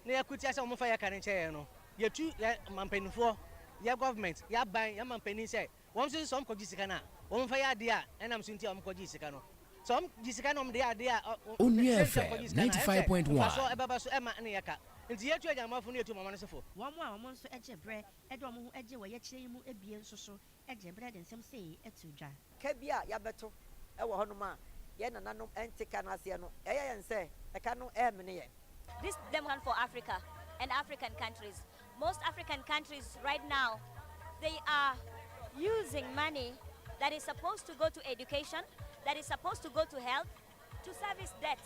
na yɛko tia sɛ wɔmfa yɛn ka no nkyɛ yɛn no, yetu yɛn mpanimfoɔ, yɛn government, yɛn aban, yɛn mampanin sɛ wɔn nso sɛ wɔkɔgye sika no a, wɔmfa yɛ adeɛ a ɛnam so nti a wɔkɔgyee sika no. Sɛ wɔgye sika na wɔde yɛ adeɛ a Onua ɛnsɛ sɛ FM wɔkɔgye sika no a, ɛne sɛ 95.1. mfasoɔ ɛbɛba so ɛmma ne yɛ ka. Enti yɛtu adwammɔfo na yɛtu wɔn amane sofo. Wɔn a wɔn nso gye berɛ de wɔn ho gye wɔ yɛkyerɛ yi mu abien nso so Ɛgye berɛ de nsɛm sei to dwa. Ka bi a yɛabɛto wɔ hɔnom a yɛn nananom nte ka no aseɛ no, ɛyɛ yɛn sɛ ɛka no remene yɛn. This dem one for Africa and African countries most African countries right now they are using money that is supposed to go to education that is supposed to go to health to service debt.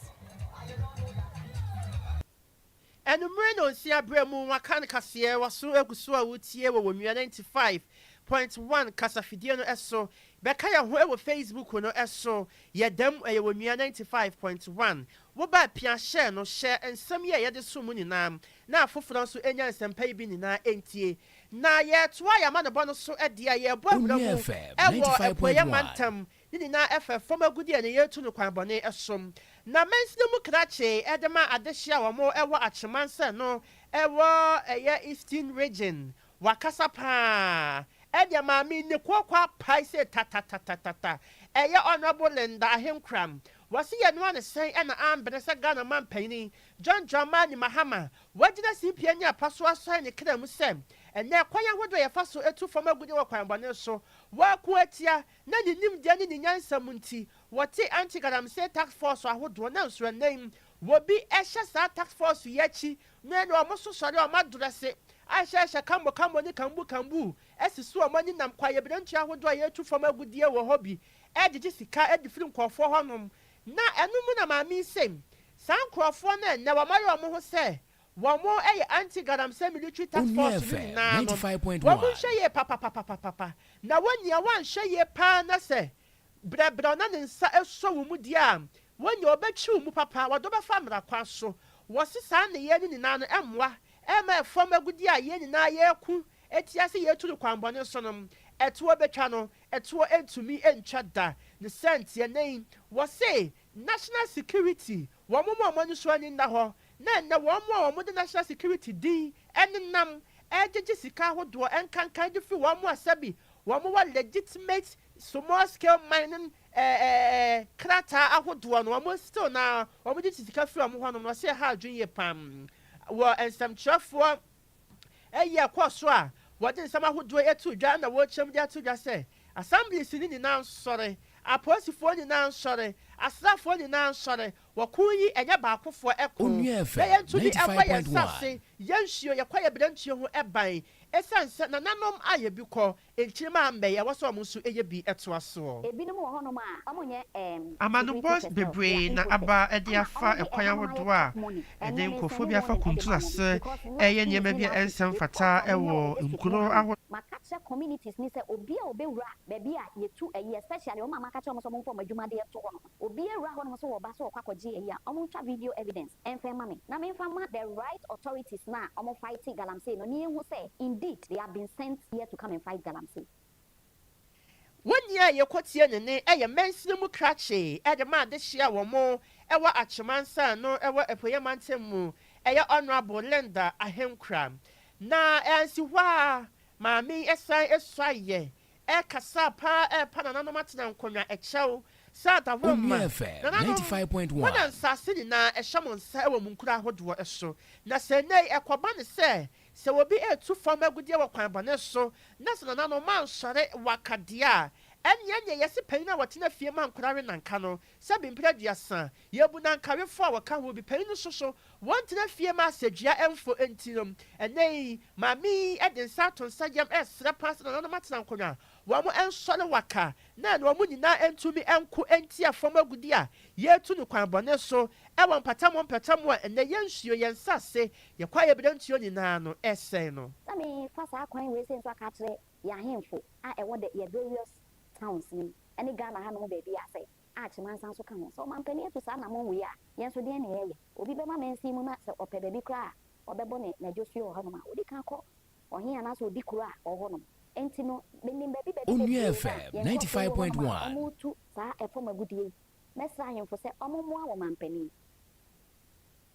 Anwummere nnɔnsia berɛ mu wɔaka no kaseɛ wɔ so agu so a woretie wɔ Onua ninety five point one kasafidie no so. Bɛka yɛn ho wɔ Facebook no so. Yɛda mu, ɛyɛ Onua ninety five point one. Wo ba pia hyɛ no, hyɛ nsɛm yi a yɛde som mu nyinaa na afoforɔ nso ɛnya nsɛmpa yi bi nyinaa ɛntie. Na yɛretoa yɛn amanebɔ no so deɛ, yɛrebɔ awura mu wɔ Apueɛ Mantam Ne nyinaa fa fam agudeɛ ne yɛtu no kwan bɔne so. Na mɛnti no mu krakyee de ma adehye a wɔn wɔ Akyemansɛn no wɔ ɛyɛ Eastern Region. Wakasa paa. Ɛdeɛ maame nni kooko apae sei tatatatatata. Ɛyɛ Honourable Linda Ahenkoram. Wɔse yɛnoa no sɛn na ambene sɛ Ghana manpanyini John Dramani Mahama wagyina simpie ne apa so asɔre ne kra mu sɛ ɛnɛ kwan ahodoɔ a yɛfa so tu fam agudeɛ wɔ kwan bɔne so wɔako atia na ne nimdeɛ ne ne nyansa mu nti, wɔte Anti-Galamsey Task Force ahodoɔ na nso ɛnnɛ yi wɔbi hyɛ saa Task Force yi akyi na ɛne wɔn nso sɔre a wɔn adrɛse ahyɛhyɛ kambo kambo ne kambuu kambuu asisi wɔn ani nam kwaeɛbirentua ahodoɔ a yɛretu fam agudeɛ wɔ hɔ bi regyegye sika de firi nkorɔfoɔ hɔ nom na ɛno mu na maame yi se saa nkorɔfoɔ no ɛnnɛ wɔayɛ wɔn ho sɛ Wɔyɛ anti Galamsey military task force no nyinaa no, wɔnhwɛ yie papapapapapa, na wɔn nea wɔanhwɛ yie paa na sɛ brɛbrɛw na ne nsa sɔ wo mu deɛ a, wɔn nea wɔbɛtwi wo mu papa, wɔde wo bɛfa mmara kwan so. Wɔse saa nneyɛɛ no nyinaa no mmoa mma ɛfam agudeɛ a yɛn nyinaa yɛreko tia sɛ yɛretu no kwanbɔne so no, ɛtoɔ bɛtwa no, ɛtoɔ ntumi ntwa da. Ne sɛnteɛ nnɛ yi, wɔse National Security Wɔn mu a wɔn ani so ani nna hɔ na ɛnnɛ wɔn mu a wɔde national security din nenam regyegye sika ahodoɔ nkankan de firi wɔn mu a sɛbi wɔn wɔ legitimate small scale mining krataa ahodoɔ no wɔn still no ara wɔde gye sika firi wɔn hɔnom no ɔse ɛha adwene yie paa wɔ nsɛmtwerɛfoɔ Eyi a ɛkɔɔ so a wɔde nsɛm ahodoɔ ato dwa na wɔrekyerɛm de ato dwa sɛ Assemblies no nyinaa nsɔre, apolisifoɔ nyinaa nsɔre, asraafoɔ nyinaa nsɔre, wɔko yi ɛnyɛ baakofoɔ ko, Onua FM na yɛnto bi ninety five mmɔ yɛn point one. nsase, yɛnsuo, yɛkɔ yɛn berɛntuo ho ban, ɛsiane sɛ nananom ayɛ bi kɔ, Nkyirimma a mbɛyɛ wɔ sɛ ɔmo so yɛ bi ɛtoa soɔ. Ebinom wɔ hɔnom a ɔmo nyɛ ɛɛm degree Amanobɔ teachers ɛwɔ bebree their na infosec aba de ɛna ɔmo afa de ɛkwan ɛhanom ayɛ ahodoɔ a top money ɛde ɛnɛ me nkorɔfoɔ bi nsɛnee afa wɔn ɛde kuntu ma wɔn ase because wo a ɛyɛ nneɛma wodin bi a office ɛnsɛ ne mfata course a wonyɛ a ɛwɔ wɔde besi pon nkuro ano no. Maka kyerɛ communities no sɛ obi a ɔbɛwura baabi a yɛtu ɛyi especially ɔmo a maka kyerɛ ɔmo sɛ ɔmo mfa ɔmo adwuma de ɛto hɔnom Obia wura hɔ nom so wɔ ba so ɔkɔ akɔgye ayi a ɔmo ntwa video evidence ɛnfɛ ma me na me nfa ma the right authorities no a ɔmo fighte galamsey no ne yɛnhu sɛ indeed they have been sent here to come and fight galamsey. Wɔn ni a yɛkɔ tia no ne ɛyɛ mansini mu krakye ɛde ma adehye a wɔn ɛwɔ Akyemansa a ɛno ɛwɔ Apueɛ mantam mu ɛyɛ Honourable Linda Ahenkura na ɛansi hɔ ara maame yi ɛsan ɛsuaeɛ Ɛkasa paa ɛrepa nananom atena nkonnwa ɛkyɛw sɛ adawurama nananom mo na nsaase nyinaa ɛhyɛ mo nsa ɛwɔ mo nkuro ahodoɔ ɛso na sɛ ɛnɛyi ɛkɔba ne sɛ sɛ obi ɛretu fam agudeɛ wɔ kwan bɔne so na sɛ nananom mo ansɔre waka deɛ a ɛneɛ neɛ yɛse panyin a wɔtena fie ma nkwadaa we nanka no sɛ bempere aduasa Yebu na Nkarefoɔ a wɔka ho bi panyin nso so. Wɔntena fie ma asadua mfo nti no, ɛnnɛ yi, maame yi de nsa ato nsa yam resrɛ paa sɛ nananom atena nkonnwa, wɔnsɔre waka, na ɛna wɔn nyinaa ntumi nko ntia fam agudi a yɛretu no kwan bɔne so wɔ mpatamu mpatamu a ɛnnɛ yɛn nsuo, yɛn nsase, yɛn kwaeɛ berɛntuo nyinaa no resɛe no. Sɛ mefa saa kwan wei sei nso aka akyerɛ yɛn ahemfo a ɛwɔ the yɛn various towns yi ne Ghana hanom baabiara sɛ, a kyema nsa nso ka ho. Sɛ ɔmampanin atu saa anammɔn wei a, yɛn nso deɛn na yɛreyɛ? Obi bɛma mansin mu na sɛ ɔpɛ baabi koraa a, ɔbɛbɔ ne n'adwosue wɔ hɔnom a, ɔdi kan kɔ ɔhene anaasɛ ɔdi kuro a ɔwɔ hɔnom. Enti no, menim baabi baabi bebree a yɛn nkurɔfoɔ yi wɔ hɔnom a wɔretu saa fam agudeɛ yi. Mɛsrɛ ahemfo sɛ wɔmmoa wɔn mampanin.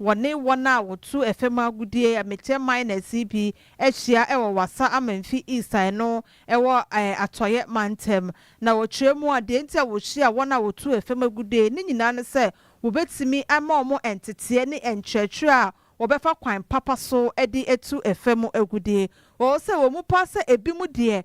wɔne wɔn a wɔtu ɛfam agudeɛ, Amekyɛ Miners yi bi ahyia wɔ Wassa Amanfi East a ɛno wɔ Atɔeɛ Mantam. Na wɔkyerɛ mu a, deɛ nti a wɔhyia wɔn a wɔtu ɛfam agudeɛ no nyinaa ne sɛ wɔbɛtumi ama wɔn nteteɛ ne nkyerɛkyerɛ a wɔbɛfa kwan papa so de atu ɛfam agudeɛ. Ɔwɔ sɛ wɔn mu paa sɛ ɛbinom deɛ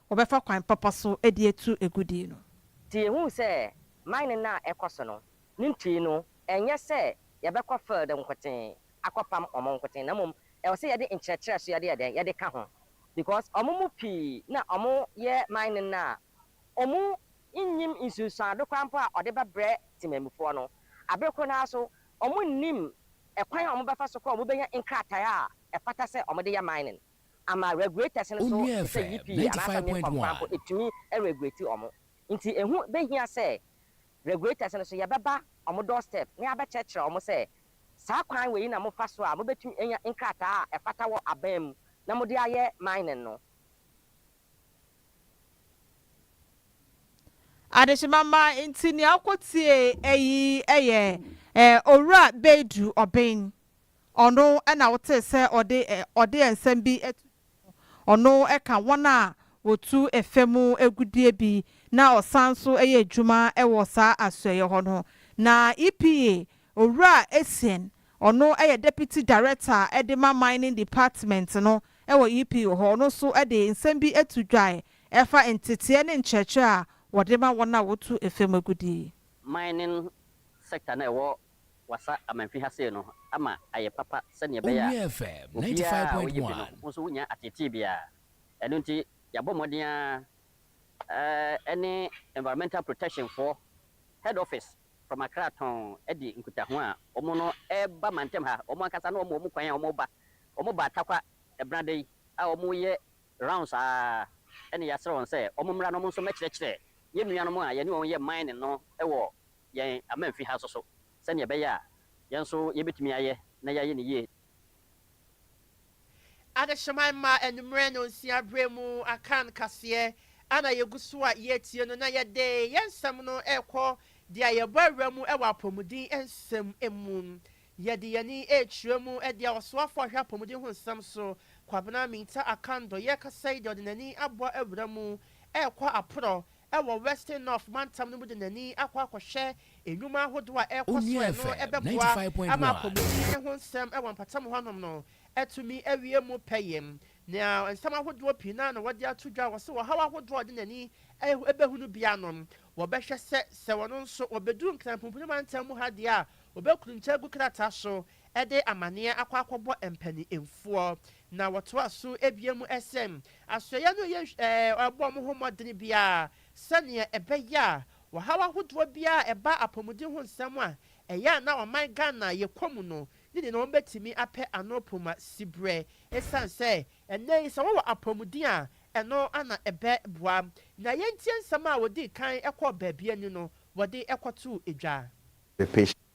wɔbɛfa kwan papa so de atu agudie no. Te yɛhuu sɛ mining no a ɛkɔ so no ne ntue no ɛnyɛ sɛ yɛbɛkɔ field nkotee akɔpam wɔn nkotee na mmom ɛwɔ sɛ yɛde nkyerɛkyerɛ so yɛde yɛ dɛn yɛde ka ho because wɔn mu pii na wɔyɛ mining no a wɔn nnim nsunsuando koraa mpo a wɔde bɛbrɛ temanmufoɔ no abere koro no ara so wɔn nnim ɛkwan a wɔn bɛfa so kɔ wɔn bɛnya nkrataeɛ a ɛfata sɛ wɔn de yɛ mining. ama regulators no so Onua te sɛ FM Yippee ninety anaasɛ five point Milcom koraa mpo one. ɛtumi regulate wɔn. Nti ɛho bɛhia sɛ regulators no so yɛbɛba wɔn doorstep na yɛabɛkyerɛkyerɛ wɔn sɛ saa kwan wei na mofa so a mobɛtumi anya nkrataa a ɛfata wɔ aban mu na mode ayɛ mining no. Adehyema mma nti nea wokɔtiee ɛyi yɛ Owura Beidu Obeng. Ɔno na wotee sɛ ɔde ɔde nsɛm bi to dwa no. Ɔno ka wɔn a wɔtu fam agudeɛ bi na ɔsan nso yɛ adwuma wɔ saa asoɛeɛ hɔ no. Na EPA, Owura Essien, ɔno yɛ Deputy Director de ma Mining Department no wɔ EPA hɔ, ɔno nso de nsɛm bi to dwa a ɛfa nteteɛ ne nkyerɛkyerɛ a wɔde ma wɔn a wɔtu fam agudeɛ yi. Mining sector no a ɛwɔ wɔasa amamfi ha sei no ama ayɛ papa sɛdeɛ ɛbɛyɛ a Owia FM ninety five obiara a point ɔyɛ bi no one. nso wonnya ateetee biara. Ɛno nti yɛabɔ mmɔden ara ɛne Environmental Protection foɔ Head Office from Accra tɔnn adi nkutaho a wɔn no reba mantam ha. Wɔn ankasa na wɔma wɔn kwan a wɔreba. Wɔbaa Tarkwa ɛbenada yi a wɔreyɛ rounds ara ɛna yɛasrɛ wɔn sɛ wɔmmra na wɔn nso mmɛkyerɛkyerɛ yɛn nuanom a yɛne wɔn yɛ mining no wɔ yɛn amamfi ha nso so sɛnea ɛbɛyɛ a yɛn nso yebetumi ayɛ na yɛayɛ no yiye. Adehyema mma anwummere nnɔnsia bere mu akan kaseɛ a na yɛgu so a yɛretie no, na yɛde yɛn nsɛm no rekɔ deɛ a yɛbɔ awura mu wɔ apɔmuden nsɛm mu. Yɛde yɛn ani rekyerɛ mu de a ɔsoafoɔ a ɔhwɛ apɔmuden ho nsɛm so, Kwabena Mintah Akandor, yɛrekasa yi deɛ ɔde n'ani abɔ awura mu rekɔ aporɔ wɔ Western North mantam no mu de n'ani akɔ akɔhwɛ nnwuma ahodoɔ a ɛrekɔ so a ɛno bɛboa ama apɔmuden ho nsɛm wɔ mpɔtam hɔnom no atumi awie mu pɛyɛ. Nea nsɛm ahodoɔ pii no ara na wɔde ato dwa a wɔse ɔhaw ahodoɔ a ɔde n'ani bɛhunu biara no wɔbɛhwɛ sɛ sɛ ɔno nso ɔbɛduru Nkran Pumpuni mantam mu ha deɛ a ɔbɛkuruntwa agu krataa so de amaneɛ akɔ akɔbɔ mpaninfoɔ. Na wɔtoa so bua mu sɛ, Asoɛeɛ no yɛ nhw-ɛɛ-ɔrebɔ wɔn ho mmɔdene biara sɛdeɛ ɛbɛyɛ a ɔhaw ahodoɔ biara a ɛba apɔmuden ho nsɛm a ɛyɛ a na ɔman Ghana yɛkɔ mu no ne deɛ na wɔbɛtumi apɛ ano po ma siberɛ ɛsiane sɛ ɛnnɛ yi sɛ wɔwɔ apɔmuden a ɛno na ɛbɛboa. Na yɛntie nsɛm a wɔdii kan kɔɔ baabi ani no wɔde kɔtoo dwa.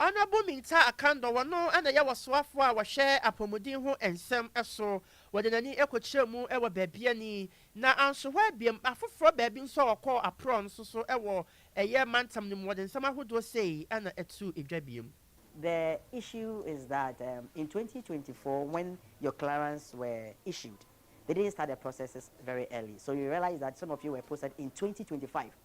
Honourable Mintah Akandor wɔ no na ɛyɛ wɔsoafoɔ a wɔhwɛ apɔmuden ho nsɛm so, wɔde n'ani kɔkyerɛɛ mu wɔ baabi ani, na anso hɔ ara biom, afoforɔ baabi nso a wɔkɔɔ aporɔɔ nso so wɔ ɛyɛ mantam no mu, wɔde nsɛm ahodoɔ sei na ɛtoo dwa biom. The issue is that um in twenty twenty four when your clearance were issued they didn't start the processes very early so you realize that some of you were posted in twenty twenty five.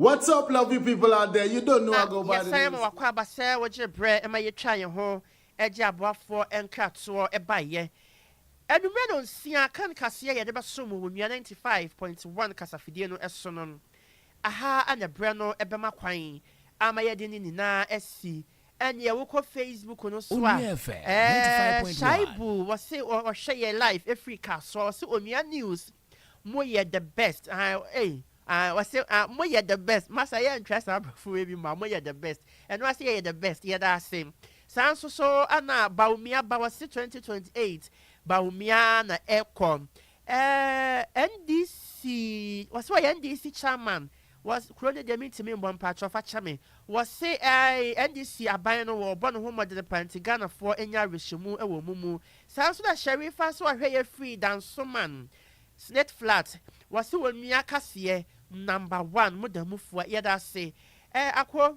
What's up, lovely people out there? You don't know I go by the name. Yɛsan wakɔ aba sɛ wɔgyere berɛ ɛma yɛtwa yɛn ho ɛgye aboafoɔ nkratoɔ ɛbaeɛ. Anwummerɛ no nsia kan kaseɛ yɛde bɛsom wɔ Onua 95.1 kasafidie no ɛso no. Aha na berɛ no ɛbɛma kwan ama yɛde ne nyinaa asi Ɛneɛ wokɔ Facebook no so a ɛɛɛ Shaibu wɔse ɔhwɛ yɛn live ɛfiri Kasoa ɔse Onua News moyɛ the best aah ei aah ɔse aah moyɛ the best masa yɛntwerɛ saa abrɔfo wei bi ma moyɛ the best ɛno ara se yɛyɛ the best yɛda ase saa nso so ɛna Bawumia ba ɔse 2028 Bawumia na ɛkɔ Ɛɛɛ NDC wɔse wɔyɛ NDC chairman wɔ kuro no deɛ mentimi mbɔ mpakyɛw fa kyɛ me wɔse ɛɛɛ NDC aban no wɔɔbɔ ne ho mmɔdene paa nti Ghanafoɔ ɛnya awerɛhyɛmu ɛwɔ ɔmo mu saa nso na Sharifa nso ɔhwɛ yɛ firi Dansoman Snake flat wɔse wɔnua kaseɛ number one moda mu fua yɛda ase ɛɛɛ Akwo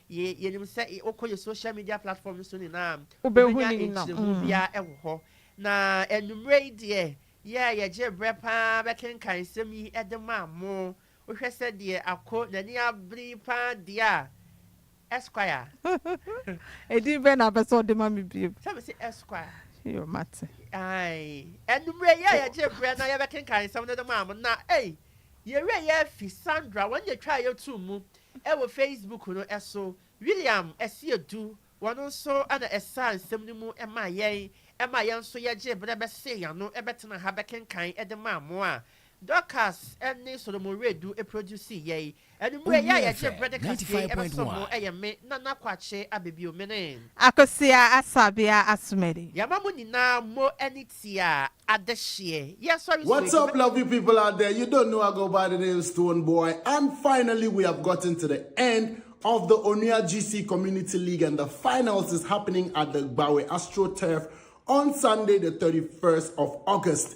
Yɛ, yɛnim sɛ y, wokɔ yɛ social media platform no so nyinaa a, Wobɛhu wobɛnya no nyina, nkyerɛmu mm. biara wɔ hɔ. Na anwummerɛ yi deɛ, yɛ a yɛgyee berɛ pa ara bɛkenkan nsɛm yi de maa mo. Wohwɛ sɛdeɛ Ako n'ani abere yi pa ara deɛ a, Esquire. Edin bɛn na wopɛ sɛ wode ma me bio? Sɛ mese Esquire. Yo, mate. Ae. Anwummerɛ yi a yɛgyee berɛ na yɛbɛkenkan nsɛm no de maa mo, na ei! Yɛwerɛ afi Sandra wɔn deɛ twaa yɛtoo mu wɔ Facebook no so, William Asiedu wɔn nso na ɛsaa nsɛm no mu maa yɛn maa yɛn nso yɛgyee berɛ bɛsee yɛn ano bɛtenaa ha bɛkenkan de maa mo a Dorcas ne Solomon Wiredu produsii yɛn. Anwummere yi a yɛgye bere de kaseɛ yi bɛsom no yɛ me Nana Kwakye Abebio Mene. Akosua Asabea Asomadi. Yɛma mo nyinaa mo ani tia adehyeɛ. Yɛsɔre so What's up lovely people out there, you don't know I go by the name Stone Boy and finally we have gotten to the end of the Onua GC Community League and the finals is happening at the Gbawe Astro Turf on Sunday the 31st of August.